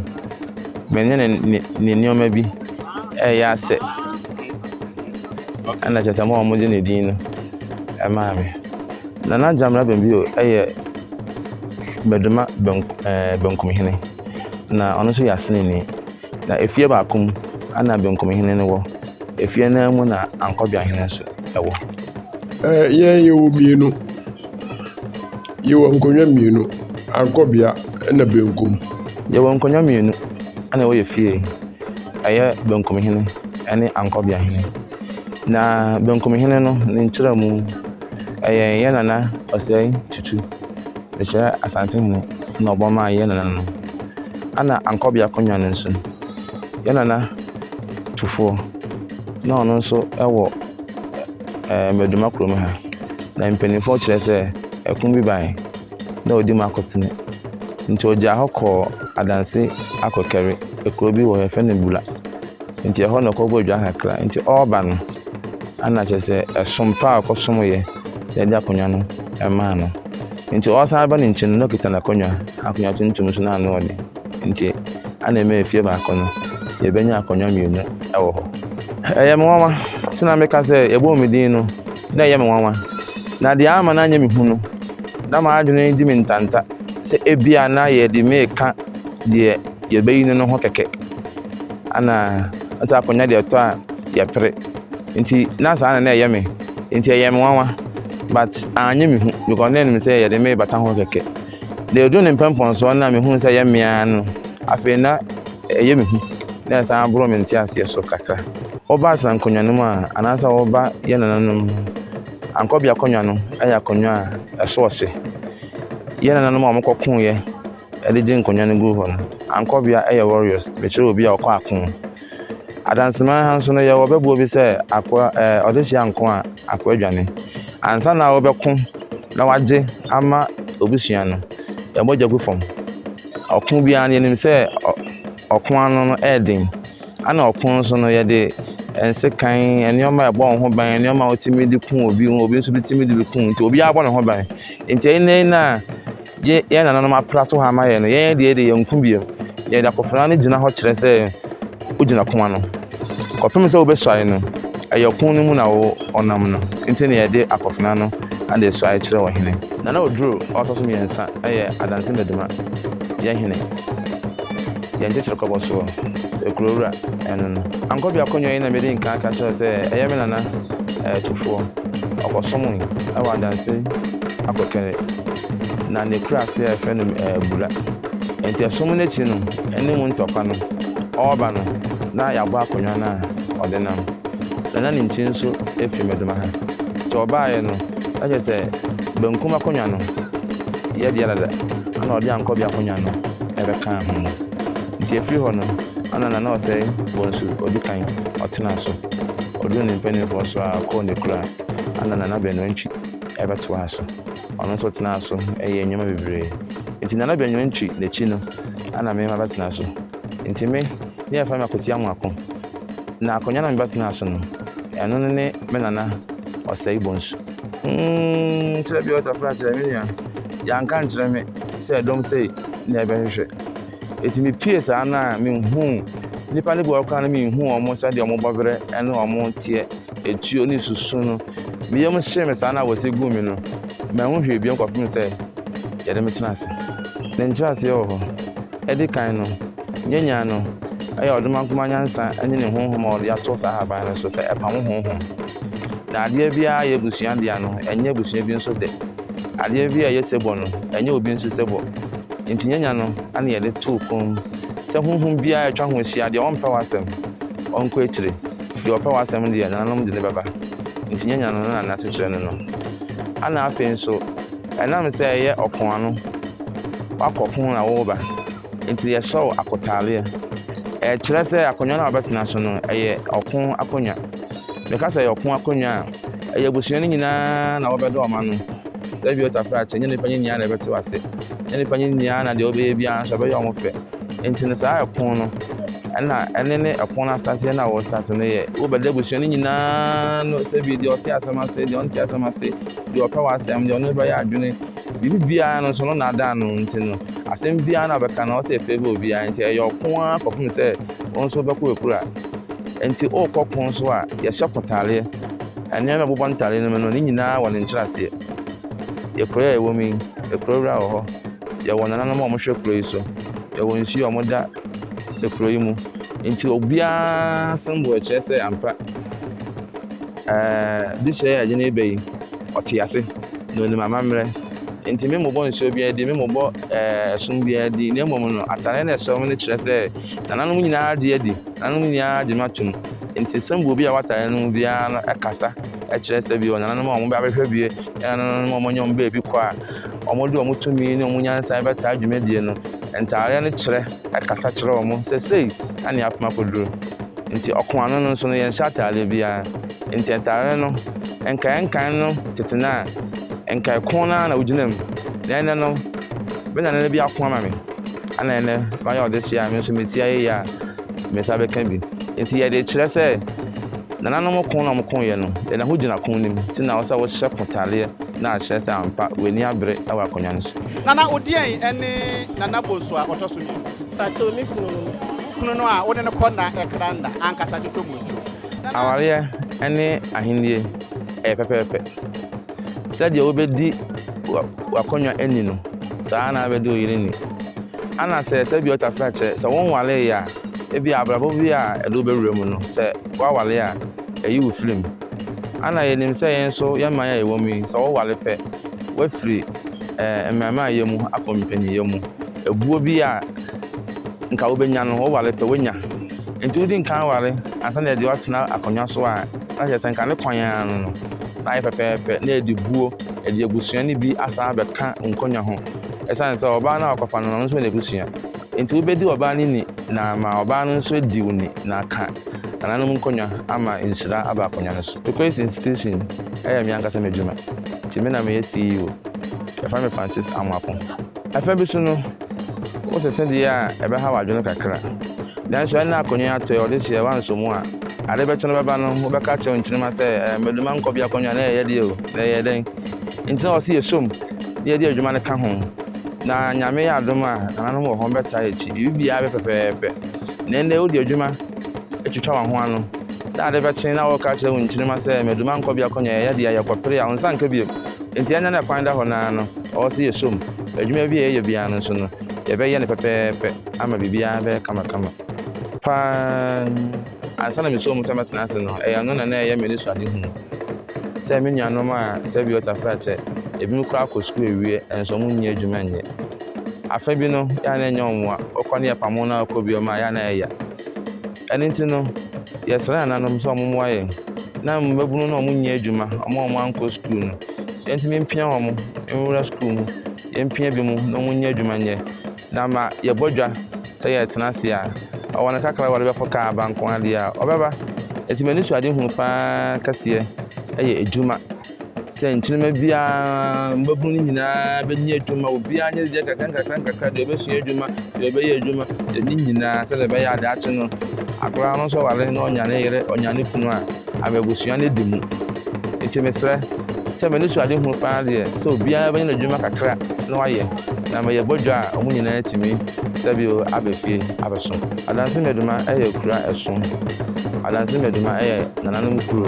S8: menyɛ ne ne ne nneɛma bi ɛyɛ asɛ. Ɛna kyerɛ sɛ mo a wɔgye ne din no ɛmaa me. Nana Gyamena Bɛmbio ɛyɛ Bɛdoma benkum ɛɛ benkumhene, na ɔno nso yɛ aseneni. Na efie baako mu na benkumhene no wɔ, efie no ara mu na ankɔbeahene nso wɔ. Ɛɛ,
S4: yɛn yɛwɔ mmienu. Yɛwɔ nkonnwa mmienu, ankɔbea na benkum. Yɛwɔ nkonnwa
S8: mmienu na ɛwɔ yɛn fie. Ɛyɛ benkumhene ne ankɔbeahene. Na benkumhene no, ne nkyerɛmu, ɛyɛ yɛn Nana Osei Tutu. Mehyia Asante mu na ɔbɔ maa yɛn nana no. Ɛna Ankɔbi Akonnwa no nso, yɛn nana tufoɔ na ɔno nso wɔ ɛɛ Maduma kurom ha. Na mpanimfoɔ kyerɛ sɛ ɛko bi bae na ɔdi mu akotene. Nti ɔgyaa hɔ kɔɔ adanse akɔkari kuro bi wɔ hɔ yɛfrɛ no Bula. Nti ɛhɔ na ɔkɔbɔ dwa kakra. Nti ɔreba no, ɛna kyerɛ sɛ ɛsom pa a ɔkɔsomeeɛ. de agye akonnwa no maa no. Nti ɔresan aba ne nkyen no na okita n'akonnwa, akonnwa tuntum so na ano yɛ den. Nti ana ɛma efie baako no yɛbɛnya akonnwa mmienu wɔ hɔ. Ɛyɛ me nwanwa sɛ na meka sɛ yɛbɔɔ me din no na ɛyɛ me nwanwa. Na deɛ ama no anyɛ me hu no, na m'adwene di me ntanta sɛ ebia na yɛde meka deɛ yɛbɛyi no no ho kɛkɛ. Ana sɛ akonnwa deɛ ɛtɔ a yɛpere. Nti na saa na na ɛyɛ me nti ɛyɛɛ me nwanwa but annye me hu because na ɛnim sɛ yɛde me bata ho kɛkɛ. Na ɛduru ne mpɛmpɔnsoɔ no na mehunu sɛ ɛyɛ me ara no afei na ɛyɛ me hu na ɛsan boro me nteaseɛ so kakra. Woba Asra nkonnwa no mu a anaasɛ woba yɛn nananom ankɔbea akonnwa no yɛ akonnwa a ɛso ɔhye. Yɛn nananom a wɔkɔkoeɛ de gye nkonnwa no guu hɔ no ankɔbea yɛ warriors. Mekyerɛ obi a ɔkɔ ako. Adanseman ha nso no, yɛwɔ ɔbɛbuo bi sɛ akoa ɛɛ ɔdehyeɛ anko a, akoa dwane. Ansa na wobɛko na wagye ama ɔbusua no, yɛn mogya gu fam. Ɔko biara no, yɛnim sɛ ɔ ɔko ano no ɛyɛ den. Ɛna ɔko nso no, yɛde nsekan, nneɛma a ɛbɔ wo ho ban, nneɛma a wotumi de ku obi, obi nso tumi de bi ku wo. Nti obiara bɔ ne ho ban. Nti ɛyɛ na ɛyɛ na Yɛ yɛn nananom aprato ha ama yɛn no, yɛn deɛ de yɛnko bio. Yɛde akofena no gyina hɔ kyerɛ sɛ wogyina ko ano. Kɔpem sɛ wobɛsuae no, ɛyɛ ɔko no mu na wo ɔnam no. Nti na yɛde akofena no ade resuae kyerɛ ɔhene. Nana Oduro a ɔtɔ so mmiɛnsa yɛ Adanse Maduma yɛ hene. Yɛn kyekyere kɔbɔ soɔ, kuro wura, ɛno no. Ankobi akonnwa yi na medi nkan ka kyerɛɛ sɛ ɛyɛ me nana tufoɔ. Ɔkɔsomoe wɔ adanse akokene na ne kura ase a yɛfrɛ no Bura. Enti ɛsom no akyi no, ne mu ntɔkwa no, ɔreba no na yɛabɔ akonnwa no a ɔde nam. Na na ne nkyi nso firi Medoma ha. Nti ɔbaeɛ no, na kyerɛ sɛ benkum akonnwa no yɛ dea dada, ɛna ɔde Ankobi akonnwa no bɛkaa ho no. Nti ɛfiri hɔ no, Anna na na ɔsɛe wɔn su ɔdi kan, ɔtenaa so. Ɔduruu ne mpanimfoɔ so ara kɔɔ ne kuro a, Anna na Nana Bɛnwantwi bɛtoaa so. Ɔno nso tenaa so yɛɛ nneɛma bebree. Nti Nana Bɛnwantwi na akyi no, Anna me mma bɛtena so. Nti me, ne yɛfrɛ me Akwasi Amoako. Na akonnwa na mebɛtenaa so no, ɛno ne me Nana Ɔsɛe Bonsu. Mm, kyerɛ bi ɔtɔ fra kyerɛ me nua. Yɛanka nkyerɛ me sɛ dɔm sei na yɛbɛhwehwɛ. Eti mipie saa no a minhuu nnipa no bi wɔ hɔ koraa no minhuu wɔn sɛdeɛ wɔn bɔberɛ ne wɔn teɛ, etuo ne susu no. Me yam hyee me saa no a wɔsi guu me no, manhu hwee bio kɔpem sɛ yɛde me tena ase. Ne nkyerɛaseɛ wɔ hɔ. Ɛdi kan no, yɛnyaa no, ɛyɛ ɔdomankoma nyansa ne ne honhom a ɔde ato saa ahaban no so sɛ ɛpamo honhom. Na adeɛ biara a ɛyɛ abusua dea no, ɛnyɛ abusua bi nso dɛ. Adeɛ bi a ɛyɛ sɛbɔ no, ɛnyɛ obi nso sɛbɔ. Enti nyanya no na yɛde too kɔn sɛ honhom biara a atwa ho ahyia, deɛ ɔmpɛ w'asɛm, ɔnkɔ akyire, deɛ ɔpɛ w'asɛm deɛ, nananom de no bɛba. Enti nyanya no na n'asekyerɛ ne no. Ɛnna afei nso, ɛnam sɛ ɛyɛ ɔko ano, woakɔ ko na woreba, Enti yɛsɔw akotaaleɛ. Ɛkyerɛ sɛ akonnwa no a wɔbɛtena so no, ɛyɛ ɔko akonnwa. Meka sɛ ɛyɛ ɔko akonnwa a, ɛyɛ abusua no nyinaa na wɔbɛdɔ wɔn ano. Sɛ Biota faa kyɛ, ɛnyɛ nnipa no nyinaa na ɛbɛtew ase. Ɛnyɛ nnipa no nyinaa na deɛ wɔbɛyɛ biara nso ɛbɛyɛ wɔn fɛ. Enti no saa ɛko no, ɛna ɛne ne ɛko no asetanseɛ no a wɔrestate no yɛ. Wobɛda abusua no nyinaa no sɛ bi deɛ ɔte asɛm ase, deɛ ɔnte asɛm ase, deɛ ɔpɛ w'asɛm, deɛ ɔno bɛyɛ adwene. Biribi biara no nso no nnaadaa no nti no, asɛm biara no a ɔbɛka no, ɔwɔ sɛ ɛfeevɔ obiara. Enti ɛyɛ ɔko ara kɔpem sɛ wo nso wobɛkɔ w'akura. Enti worekɔ ko nso a, yɛhyɛ kotaareɛ. Nneɛma a ɛbobɔ ntaareɛ no mu no, ne nyinaa wɔ ne nkyerɛaseɛ. Yɛ kuro yi a yɛwɔ mu yi, akuro wura wɔ hɔ. Yɛwɔ nananom a wɔhwɛ kuro yi so. Yɛwɔ nsuo a wɔda akuro yi mu. Enti obiara sɛm wɔ ɛkyerɛ sɛ ampa ɛɛ dehyeɛ a yɛagye no reba yi, ɔte ase. Na onim amammerɛ. Enti memmobɔ nsuo biara din, memmobɔ ɛsono biara din, na mmom no, atadeɛ no a ɛsɔ me no kyerɛ sɛ nananom nyinaa gye adi, nananom nyinaa gye me atom. Enti sɛnbua obi a wɔ atadeɛ no mu biara no kasa kyerɛ sɛ bi wɔ nananom a wɔbɛ abɛhwɛ bi, ne nananom a wɔanya wɔn baabi kɔ a wɔde wɔn tumi ne wɔn nyansa bɛtaa dwumadie no. Ntadeɛ no kyerɛ, ɛkasa kyerɛ wɔn sɛ sei na nea apem akɔduru. Enti ɔko ano no nso no, yɛnhyɛ atadeɛ biara. Ntsi ntar no nkae nkae no tsetse no a, nkae kor no ara na ogyina mu. Na ndɛ no, me nana no bi ako ama me. Ana ndɛ mayɛ ɔdesua a me so metsia yie a, me nsa bɛka bi. Ntsi yɛdze rekyerɛ sɛ nananom ko na wɔkõ yɛ no, yɛdze ho gyina ko no mu. Ntsi nna ɔwɔ sɛ wohyɛ ko tareɛ na akyerɛ sɛ ampa w'ani abere wɔ akonnwa no so. Nana Odeɛn
S1: ne Nana Bonsu a ɔtɔ so mmienu? Pakyɛw, me kunu
S9: no. Wo kunu no a
S1: wo ne no kɔ nna kra nna ankasa dwodwo mu ntwo. Awareɛ
S8: ne ahennie ɛyɛ pɛpɛɛpɛ. Sɛdeɛ wobɛdi w'akonnwa ni no, saa na wobɛdi wo yere ni. Ana sɛ sɛ bi ɔtafra kyɛ, sɛ wo nwaree a, ebi abrabɔ bi a ɛde wobɛwura mu no, sɛ woaware a, ɛyi wo firi mu. Ana yɛnim sɛ yɛn nso yɛn mman a yɛwɔ mu yi, sɛ woware pɛ, woafiri ɛɛ mmarimaayɛ mu akɔ mpaninnyɛ mu. Ɛboɔ bi a nka wobɛnya no, woware pɛ wonya. Nti wodi nkan ware ansa na ɛde watena akonnwa so a, na kyerɛ sɛ nka ne kwan ara no no, na ayɛ pɛpɛɛpɛ na ɛde buo, ɛde abusua no bi asan abɛka nkonnwa ho. Ɛsiane sɛ ɔbaa no a ɔkɔfa no no, ɔno nso wɔ n'abusua. Nti wobɛdi ɔbaa no ni na ama ɔbaa no nso adi wo ni na aka nananom nkonnwa ama nhyira aba akonnwa no so. Turquoise Institution yɛ me ankasa m'adwuma. Nti me na meyɛ CEO. Wɔfrɛ me Francis Amoako. Afã bi so no, wo se se deɛ a ɛbɛhaw adwene kakra. Nanso ɛnna akonnwa atɔe, ɔde seɛ, woansɔ mu a, ade bɛkye no bɛba no, wobɛka akyerɛ wo nkyenema sɛ, ɛɛ, Madu m'ankɔ bi akonnwa, na ɛyɛ deɛ o, na ɛyɛ dɛn? Enti na wɔse yɛsɔm na yɛde adwuma no ka ho. Na Nyame yɛ adom a, nananom wɔ hɔ, wɔbɛtaa yɛn akyi. Biribiara bɛ pɛpɛɛpɛ. Na ɛnnɛ wode adwuma atwitwa wɔn ho ano, na ade bɛkye na wɔreka akyerɛ wo nkyenema sɛ, Madu m'ankɔ bi akonnwa, ɛyɛ deɛ a, yɛkɔpere a, wo nsa nka bio. Enti ɛnyɛ na kwan da hɔ no ara no, ɔwɔ sɛ yɛsɔ mu. Adwuma bi a yɛyɛ biara no nso no, yɛbɛyɛ no pɛpɛɛpɛ ama biribiara abɛyɛ kamakama. Pa ara, ansa na mesɔɔ mu sɛ mɛtena ase no, ɛyɛ ɛno na na ɛyɛ m'anisoadehunu. Sɛ me nuanom a sɛ bi ɔtafere akyɛ, ebinom koraa kɔ sukuu awie nso wɔnni adwuma nyɛ. Afã bi no, yɛ a na ɛnyɛ wɔn mmoa, wɔkɔ no yɛ pamo na wɔkɔ bio mma a, yɛ a na ɛyɛ ya. Ɛno nti no, yɛsrɛɛ ananom sɛ wɔmmoa yɛn. Ná mmabunu no a wɔnyɛ adwuma, wɔn a wɔankɔ sukuu no, yentumi mpia wɔn nwura sukuu mu. Yempia binom na wɔnyɛ adwuma nyɛ, na ama yɛabɔ dwa sɛ yɛretena ase a, ɔwɔ no kakra a wɔde bɛforo kaa aba nko ara deɛ a, ɔbɛba. Enti m'anisoadehunu pa ara kɛseɛ yɛ adwuma. sɛ nkyenema biara mmabunu no nyinaa bɛnya adwuma obiara nyɛ deɛ kakra nkakra nkakra deɛ ɔbɛsua adwuma deɛ ɔbɛyɛ adwuma ne nyinaa sɛdeɛ ɛbɛyɛ ade akye no akwadaa no nso wale na ɔnya ne yere ɔnya ne kunu a ama abusua no di mu nti mesrɛ sɛ m'ani so ade hunu paa deɛ sɛ obiara bɛnya n'adwuma kakra na wayɛ na ma yɛbɔ dwa a wɔn nyinaa atumi sɛbio abɛfie abɛsom Adansi Meduma yɛ kura ɛsom. Adansi Meduma yɛ nananom kuro.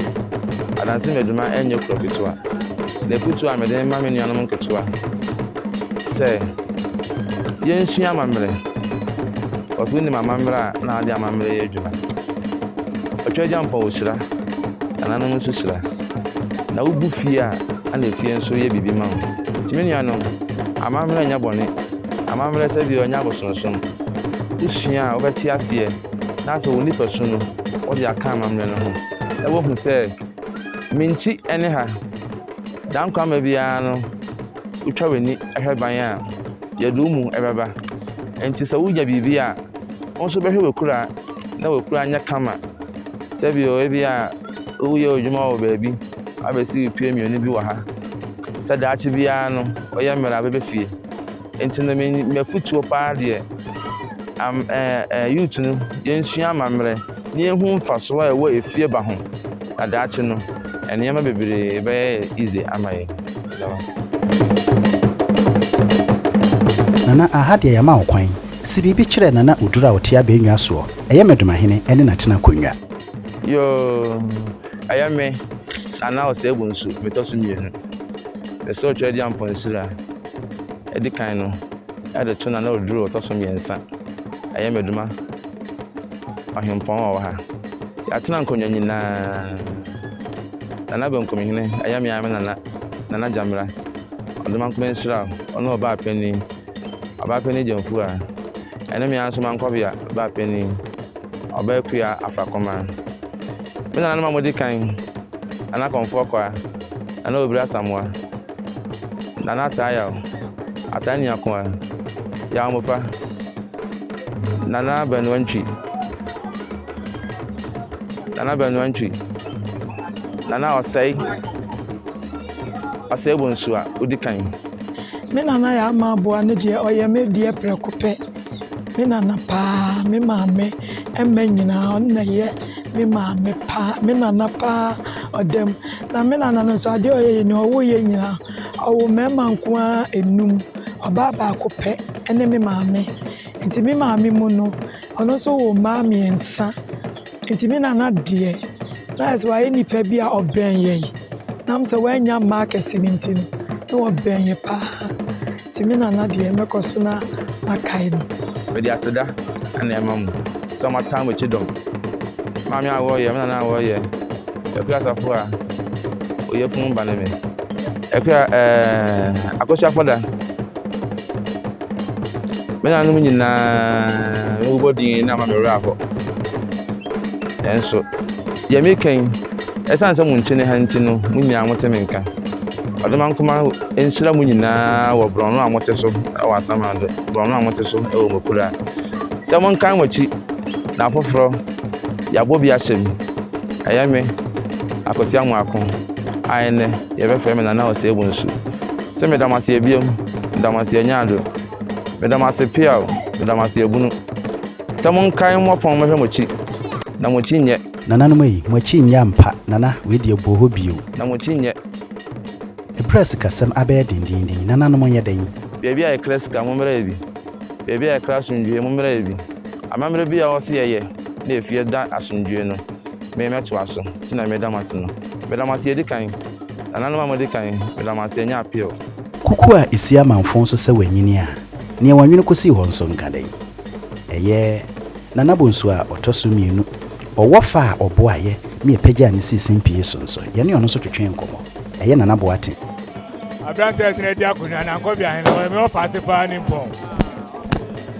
S8: Adansi Meduma nyɛ kuro ketewa. Na afutuo a mede rema me nuanom nketewa sɛ yɛnsua amammerɛ. Ɔsɛ wonim amammerɛ a na wode amammerɛ yɛ adwuma. Ɔtwa agya mpɔn ɔhyira, nananom nso hyira. Na wogu fie a ɛna efie nso yɛ biribi ma wo. Nti me nuanom, amammerɛ nyɛ bɔne. Amammerɛ sɛdeɛ ɔnyɛ abosonsom. wosua a wɔbɛte aseɛ na afei wɔn nipasu no wɔde aka amammerɛ no ho na wɔahu sɛ me nti ɛne ha. Dankwamma biara no wotwa w'ani hwɛ ban a yɛde wo mu bɛba. Nti sɛ wonya biribi a, wo nso bɛhwɛ w'akura na w'akura nyɛ kama. Sɛ bi wɔ ebi a woyɛ adwuma wɔ baabi abɛsi pie mmienu bi wɔ ha. Sɛ daakye biara no ɔyɛ mmerɛ a bɛbɛ fie. Nti no m'afutuo paa deɛ, youth no yɛnsua amammerɛ na yɛhu mfasoɔ a ɛwɔ efie ba ho na daakye no nneɛma bebree bɛyɛ easy ama yɛn. Meda mo ase.
S1: Nana aha deɛ yama wo kwan. Se biribi kyerɛ Nana Oduro a ɔte abɛnnwa soɔ. Ɛyɛ me Domahene ɛne n'atena akonnwa. Yoo
S8: ɛyɛ me Nana Oseagu nso metɔ so mmienu. Mesɛ ɔtwaadi amponsiri a. adi kan no de to no a na ɔduru ɔtɔ so mmiɛnsa. Ɛyɛ me dwuma ɔhempɔn a ɔwɔ ha. Yɛatena nkonnwa nyinaa. Nana Benkumhene, ɛyɛ me ara me nana, Nana Gyamera. Ɔdomankoma nhyira wo, ɔne ɔbaapanin, ɔbaapanin Gyamfua. Ɛne me ara nso Mankɔbea baapanin, ɔbaakua Afrakoma. Me nananom a wɔdi kan, Nana Komfoɔ Kwaa, Nana Obiri Asamoah. Nana ataa yaw, ataa nua ko ɛ, yaw mmɔfra. Nana Abɛnoa ntwi, Nana Abɛnoa ntwi, Nana ɔsɛe, ɔsɛe bɔ nsu a odi kan. Me nana
S7: yɛ ama aboa no deɛ ɔyɛ me deɛ prɛko pɛ. Me nana paa, me maame mma nyinaa ɔno na ɛyɛ me maame paa, me nana paa ɔda mu. Na me nana no nso adeɛ a ɔyɛ yɛ ni, ɔwo yɛ nyinaa ɔwo mmarima nko ara enum, ɔbaa baako pɛ ɛne me maame. Nti me maame mu no ɔno nso wɔ mmaa mmiɛnsa. Enti me nana deɛ, na ayɛ sɛ wayɛ nipa bi a ɔbɛn yɛ yi. Nam sɛ wanya mma akɛse no nti no, na wɔbɛn yɛ paa. Enti me nana deɛ, mɛkɔ so na makae no. Mede aseda
S8: na ɛma mo sɛ mo atan mo akyi dɔm. Maame a wɔɔ yɛ, me nana a wɔɔ yɛ, Akua Asafo a ɔyɛ funu ba ne me. Akua ɛɛɛ, Akosua Fɔda. Me nanom nyinaa mebobɔ din na ama me werɛ ahɔ. Nanso, deɛ meka yi, ɛsiane sɛ mo nkyene ha nti no, mo nyinaa mote me nka. Ɔdomankoma nhyira mo nyinaa wɔ borɔno a mote so wɔ Asamando, borɔno a mote so wɔ Mokura. Sɛ monkan mo akyi na afoforɔ yɛabɔ bi ahyɛ mu. Ɛyɛ me, Akwasi Amoako, a ɛnnɛ yɛbɛfrɛ me Nana Ɔsɛe Bonsu. Se meda mo ase ebiom, meda mo ase anyaado, meda mo ase pea o, meda mo ase abunu. Sɛ monkae mmɔpɔn mɛhwɛ moakyi, na moakyi nyɛ. Nananom ei, moakyi
S1: nyɛ ampa, nana, wei deɛ bɔ hɔ bio. Na moakyi nyɛ.
S8: Eberɛ
S1: a sikasɛm abɛyɛ dendeenden, nananom nyɛ dɛn. Baabi a yɛkra sika,
S8: mommra yɛ bi, baabi a yɛkra asomdwoeɛ, mommra yɛ bi. Amammerɛ biara a wɔse yɛyɛ na efie da asomdwoeɛ no, me mɛtoa so, nti na meda mo ase no. Meda mo ase edikan. Nananom a mo adi kan, meda mo ase, ɛnyɛ appeal. Kuku a ɛsi
S1: amanfõ so sɛ wanyini a nea wanwene kɔsii hɔ nso nka dɛn? Ɛyɛ Nana Bonsu a ɔtɔ so mmienu. Ɔwɔ fa a ɔboaeɛ ma yɛpagyaa no sii simpie so nso. Yɛne ɔno nso twetwee nkɔmmɔ. Ɛyɛ Nana Boateng. Aberanteɛ
S2: a ɛtena adi akonnwa, Nankwabea Ahene, ɔyɛ me ɔfaase paa nimpɔn.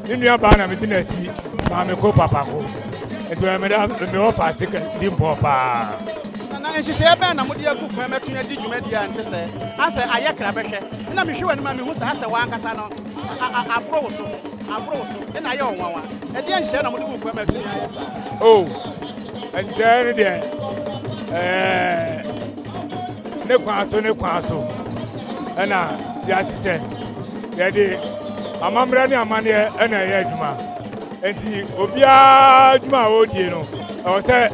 S2: Ne nuabaa na medi n'akyi, Maameko Papako. Nti ɔyɛ me da, me ɔfaase nimpɔn paa. Nana, nhyehyɛɛ
S1: bɛn na mode agu kwan mɛtwe adi dwumadi a ɛnte sɛɛ? Asɛ, ayɛ kra bɛhwɛ. Nna mehwɛ w'anim a mehu sɛ asɛ w'ankasa no aboro wo so, aboro wo so. Nna ayɛ wo nwanwa. Ɛdeɛn nhyehyɛɛ na mode gu kwan ma atumi ayɛ saa? Oh,
S2: nhyehyɛɛ no deɛ, ɛɛ, ne kwan so, ne kwan so ɛna yɛahyehyɛ. Yɛde amammerɛ ne amanneɛ ɛna ɛyɛ adwuma. Enti obiara adwuma a ɔredie no, ɛwɔ sɛ.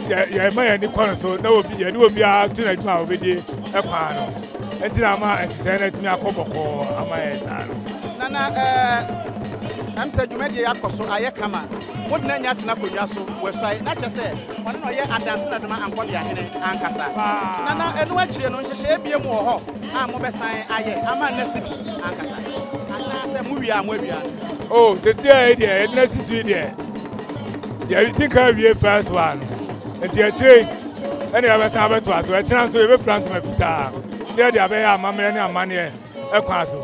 S2: yɛma yɛn ani kɔ no so na obi yɛne obiara to no adwuma a obedi kwan no nti na ama nhyehyɛe no atumi akɔ bɔkɔɔ ama yɛn saa no nana ɛɛ
S1: ɛm sɛ dwumadie yɛ akɔ so ayɛ kama mo de na nya atena akonnwa so wɔasuae na kyɛ sɛ ɔne na ɔyɛ adanse na doma ankɔde ahene ankasa nana ɛno akyire no nhyehyɛe bie mu wɔ hɔ a mobɛsan ayɛ ama nna si bi ankasa anaasɛ mowie a moawia o oh, sɛsi
S2: a ɛdeɛ ɛdena si so deɛ yɛdi ka awie first one no nti akyire yi ɛne yɛbɛsan abɛto aso ɛkyena nso yɛbɛfira ntoma fitaa ne yɛde abɛyɛ amammerɛ ne amanneɛ ɛkwan so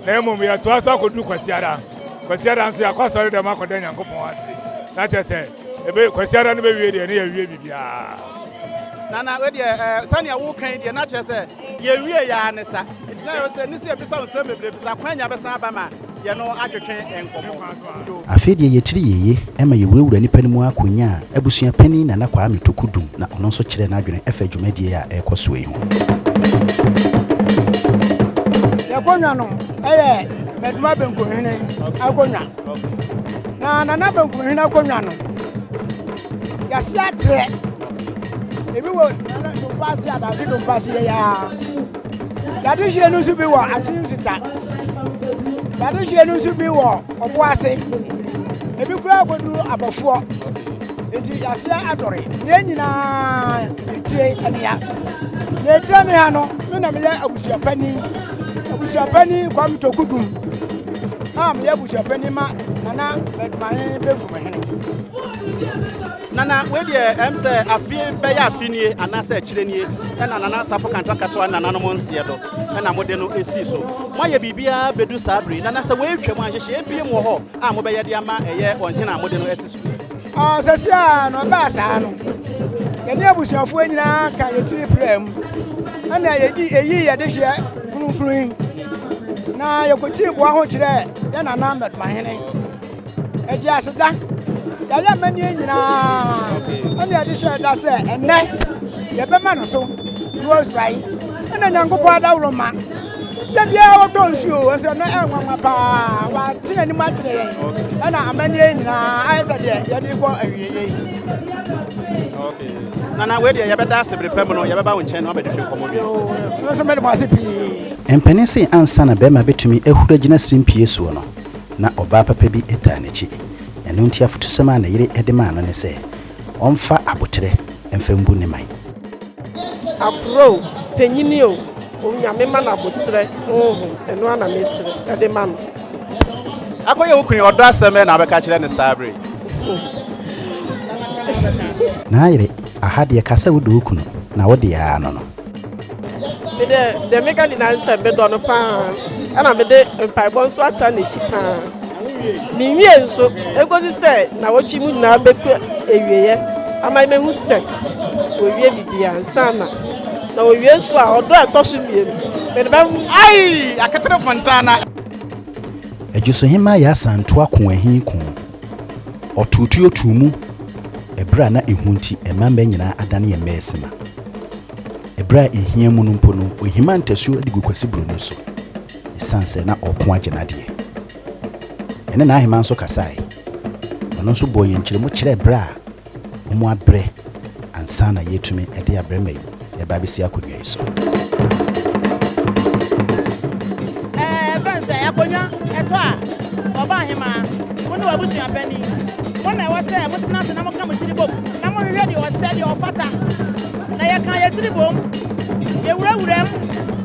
S2: na mmom yɛtoa so akɔduru kwasiada kwasiada nso yɛakɔ asɔre dɛm akɔda nyankopɔn ase na kyɛ sɛ kwasiada no bɛwie deɛ ne yɛwie biribiaa nana
S1: wedeɛ eh, sɛnea woka yi deɛ na kyerɛ sɛ yɛwie yɛa ne sa nti na yɛwɔ sɛ ne sɛ yɛbisa wo nsɛm bebree bisa kwan nya bɛsan aba ma yɛno atwetwe nkɔmmɔ dodo. Afei deɛ yɛkyiri yeye ma yɛwurawura nnipa no mu ara kɔnyaa Abusua Panin Nana Kwame Toku Dum na ɔno nso kyerɛɛ n'adwene ɛfa dwumadie a ɛrekɔ soɔ yi ho.
S9: Yɛakonnwa no yɛ Maduma Benkumhene akonnwa. Na Nana Benkumhene akonnwa no, yɛase atrɛ. Ebi wɔ Nana Dompase, Adase Dompase yei ara. Dadehyeɛ no nso bi wɔ ase nsuta. Dadehyeɛ no nso bi wɔ ɔbo ase. Ebi koraa kɔduru abɔfoɔ. Nti aseɛ adɔre. Deɛ nyinaa yɛtie anea. Na ɛtira me ha no, me na meyɛ abusuapani. Abusuapani Kwam Tokudum a meyɛ abusuapani ma Nana Bɛdumahe Benkum Hene. Nana,
S1: wei deɛ ɛm sɛ afie bɛyɛ afe nie anaasɛ akyire nie ɛna Nana Safo Kantwa Katoa nananom nseɛ do ɛna mode no ɛsii so. Moayɛ biribiara bɛdu saa bere yi, Nana sɛ wei twam a nhyehyeɛ biem wɔ hɔ a mobɛyɛ de ama ɛyɛ ɔhene a mode no asi so yi? Ɔɔ, sɛsi a
S9: na ɔbaa saa no, yɛne abusuafoɔ nyinaa ka yɛ tiri praa mu ɛna yɛdi ɛyi yɛde hyeɛ kronkron yi na yɛkɔtii boa ho kyerɛɛ yɛ Nana Mɛdomahene. Ɛgye aseda. Yɛayɛ amanneɛ nyinaa ɛne ɛde hyɛ ɛda sɛ ɛnɛ yɛbɛma no so na ɔsae ɛna nyankopɔn adaworo ma da biara wɔtɔ nsuo ɛsɛ no ɛnwanwa paa wɔate n'anim akyerɛ yɛn ɛna amanneɛ nyinaa ayɛ sɛ deɛ yɛde kɔ awieɛ yi
S1: nana wei deɛ yɛbɛda ase bere pɛ mu no yɛbɛba wo nkyɛn na wabɛdehwɛ nkɔmmɔ bi no nso mede mo
S9: ase pii mpanin se
S1: ansa na bɛrima bɛtumi ahuru agyina sirimpie soɔ no Ná ɔbaa papa bi taa n'akyi, ɛno nti afotusɛm a ne yere de maa no ne sɛ, ɔmfa aboterɛ mfa mbu ne man.
S10: Aporɔ o, panyin o, Onyame ma no aboterɛ honhom, ɛno ara na mesrɛ de ma no. Akɔyɛ
S1: wo kunu yi ɔdɔ asɛm bɛn na wobɛka akyerɛ no saa bere yi? N'ayere, Aha deɛ ka sɛ wodɔ wo kunu na wode ara no no. Mede
S10: deɛ meka nyinaa ne sɛ medɔ no paa ɛna mede mpaebɔ nso ata n'akyi paa menwie nso ɛkɔsi sɛ na wɔtwe mu nyinaa bɛkɔ awieɛ ama mɛhu sɛ wɔwie bibia nsa na na wɔwie nso a ɔdɔ a ɛtɔ so mmienu mede bɛhu ai aketere
S1: fontana Adwusuhema Yasa Ntoa Ko Ahi Ko Ɔtoo tuo too mu ɛberɛ a na ehu nti ɛmma mmɛ nyinaa adane yɛ mmɛ resema. Ɛberɛ a ehia mu no mpo no, ɔhimaa ntasuo de gu Kwasi Broni so esiane sɛ na ɔreko agye n'adeɛ. Yɛne N'Aheman nso kasaeɛ. Ɔno nso bɔɔ yɛn nkyeremu kyerɛɛ berɛ a Bɔ mu abrɛ ansa na yɛatumi de abrɛ mma yi reba abɛsi akonnwa yi so.
S11: Ɛbɛn sɛ akonnwa ɛtɔ a, Ɔbaahemaa, wo ne w'abusua panin, mo na ɛwɔ sɛ motena ase na moka mo tiri bom na mohwehwɛ deɛ ɔsɛ, deɛ ɔfata. Na yɛka yɛn tiri bom, yɛwura wuram,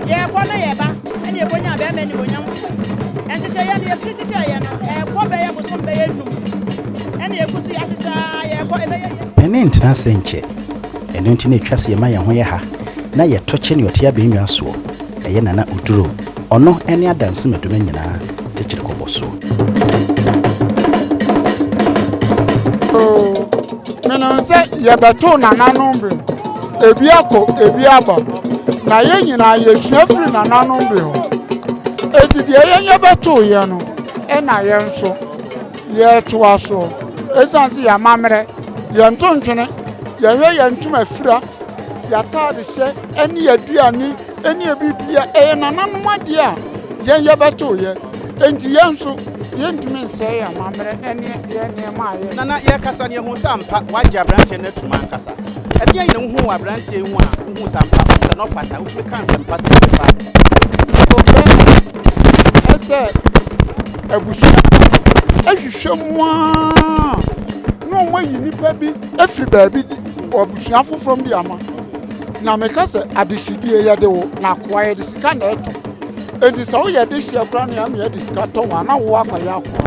S11: yɛkɔ na yɛba, ɛne yɛkɔnya bɛɛma animuonyam. Nhyehyɛeɛ no yɛfiri hyehyɛeɛ no, ɛkɔ bɛyɛ bosom bɛyɛ nnum. Ɛna yɛgu so yɛahyehyɛ a yɛrekɔ ɛbɛyɛ yie. Ɛne ntena ase nkyɛ.
S1: Ɛno nti na ɛtwa sɛ yɛma yɛn ho yɛ ha na yɛto kye nea ɔte abɛnnwaa soɔ, ɛyɛ Nana Oduro, ɔno ne Adanse Madonna nyinaa tekyere kɔbɔ soɔ.
S2: Oo, menim sɛ yɛbɛtoo nananom bi ho, ebi akɔ, ebi aba, na yɛn nyinaa yɛsua firi nananom bi hɔ. Enti deɛ yɛn yɛbɛtooeɛ no, ɛna yɛn nso Yɛtoa so. Esiane sɛ yɛn amammerɛ, yɛn ntontwene, yɛhwɛ yɛn ntoma fira, yɛn ataadehyɛ ne yɛn aduane ne yɛn biribia ɛyɛ nananom adeɛ a yɛn yɛbɛtoeɛ nti, yɛn nso yɛntumi nsɛe yɛn amammerɛ ne yɛn nneɛma a yɛ. Nana, yɛrekasa no yɛhuu
S1: sɛ ampa woagye aberanteɛ no atum ankasa. Ɛdeɛn na wohuu wɔ aberanteɛ yi ho a wohuu sɛ ampa ɔsɛ na ɔfata? Wotumi ka nsɛmpa sɛn de fa. Ɔbɛn,
S2: ɛsɛ abusua bi ahwehwɛ mu ara na wɔn ayi nipa bi afiri baabi de abusua foforɔ bi ama na meka sɛ adehyedie yɛde wo na akoa yɛde sika na ɛtɔ enti sɛ woyɛ de hyɛ koraa na ama yɛde sika tɔ wɔn ana wo akɔyɛ akoa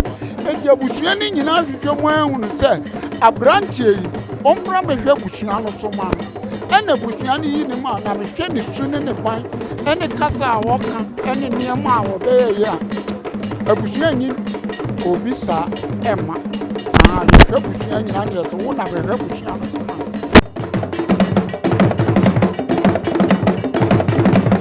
S2: enti abusua no nyinaa ahwehwɛ mu ahunu sɛ aberanteɛ yi ɔmmra mɛhwɛ abusua no so ma no Ɛna abusua no yi ne mu a, na mehwɛ ne su ne ne kwan ne kasa a ɔka ne nneɛma a ɔbɛyɛ yɛ a, abusua nyi obi saa ɛma. Na yɛhwɛ abusua nyinaa ne yɛto wo na bɛhwɛ abusua no so ma.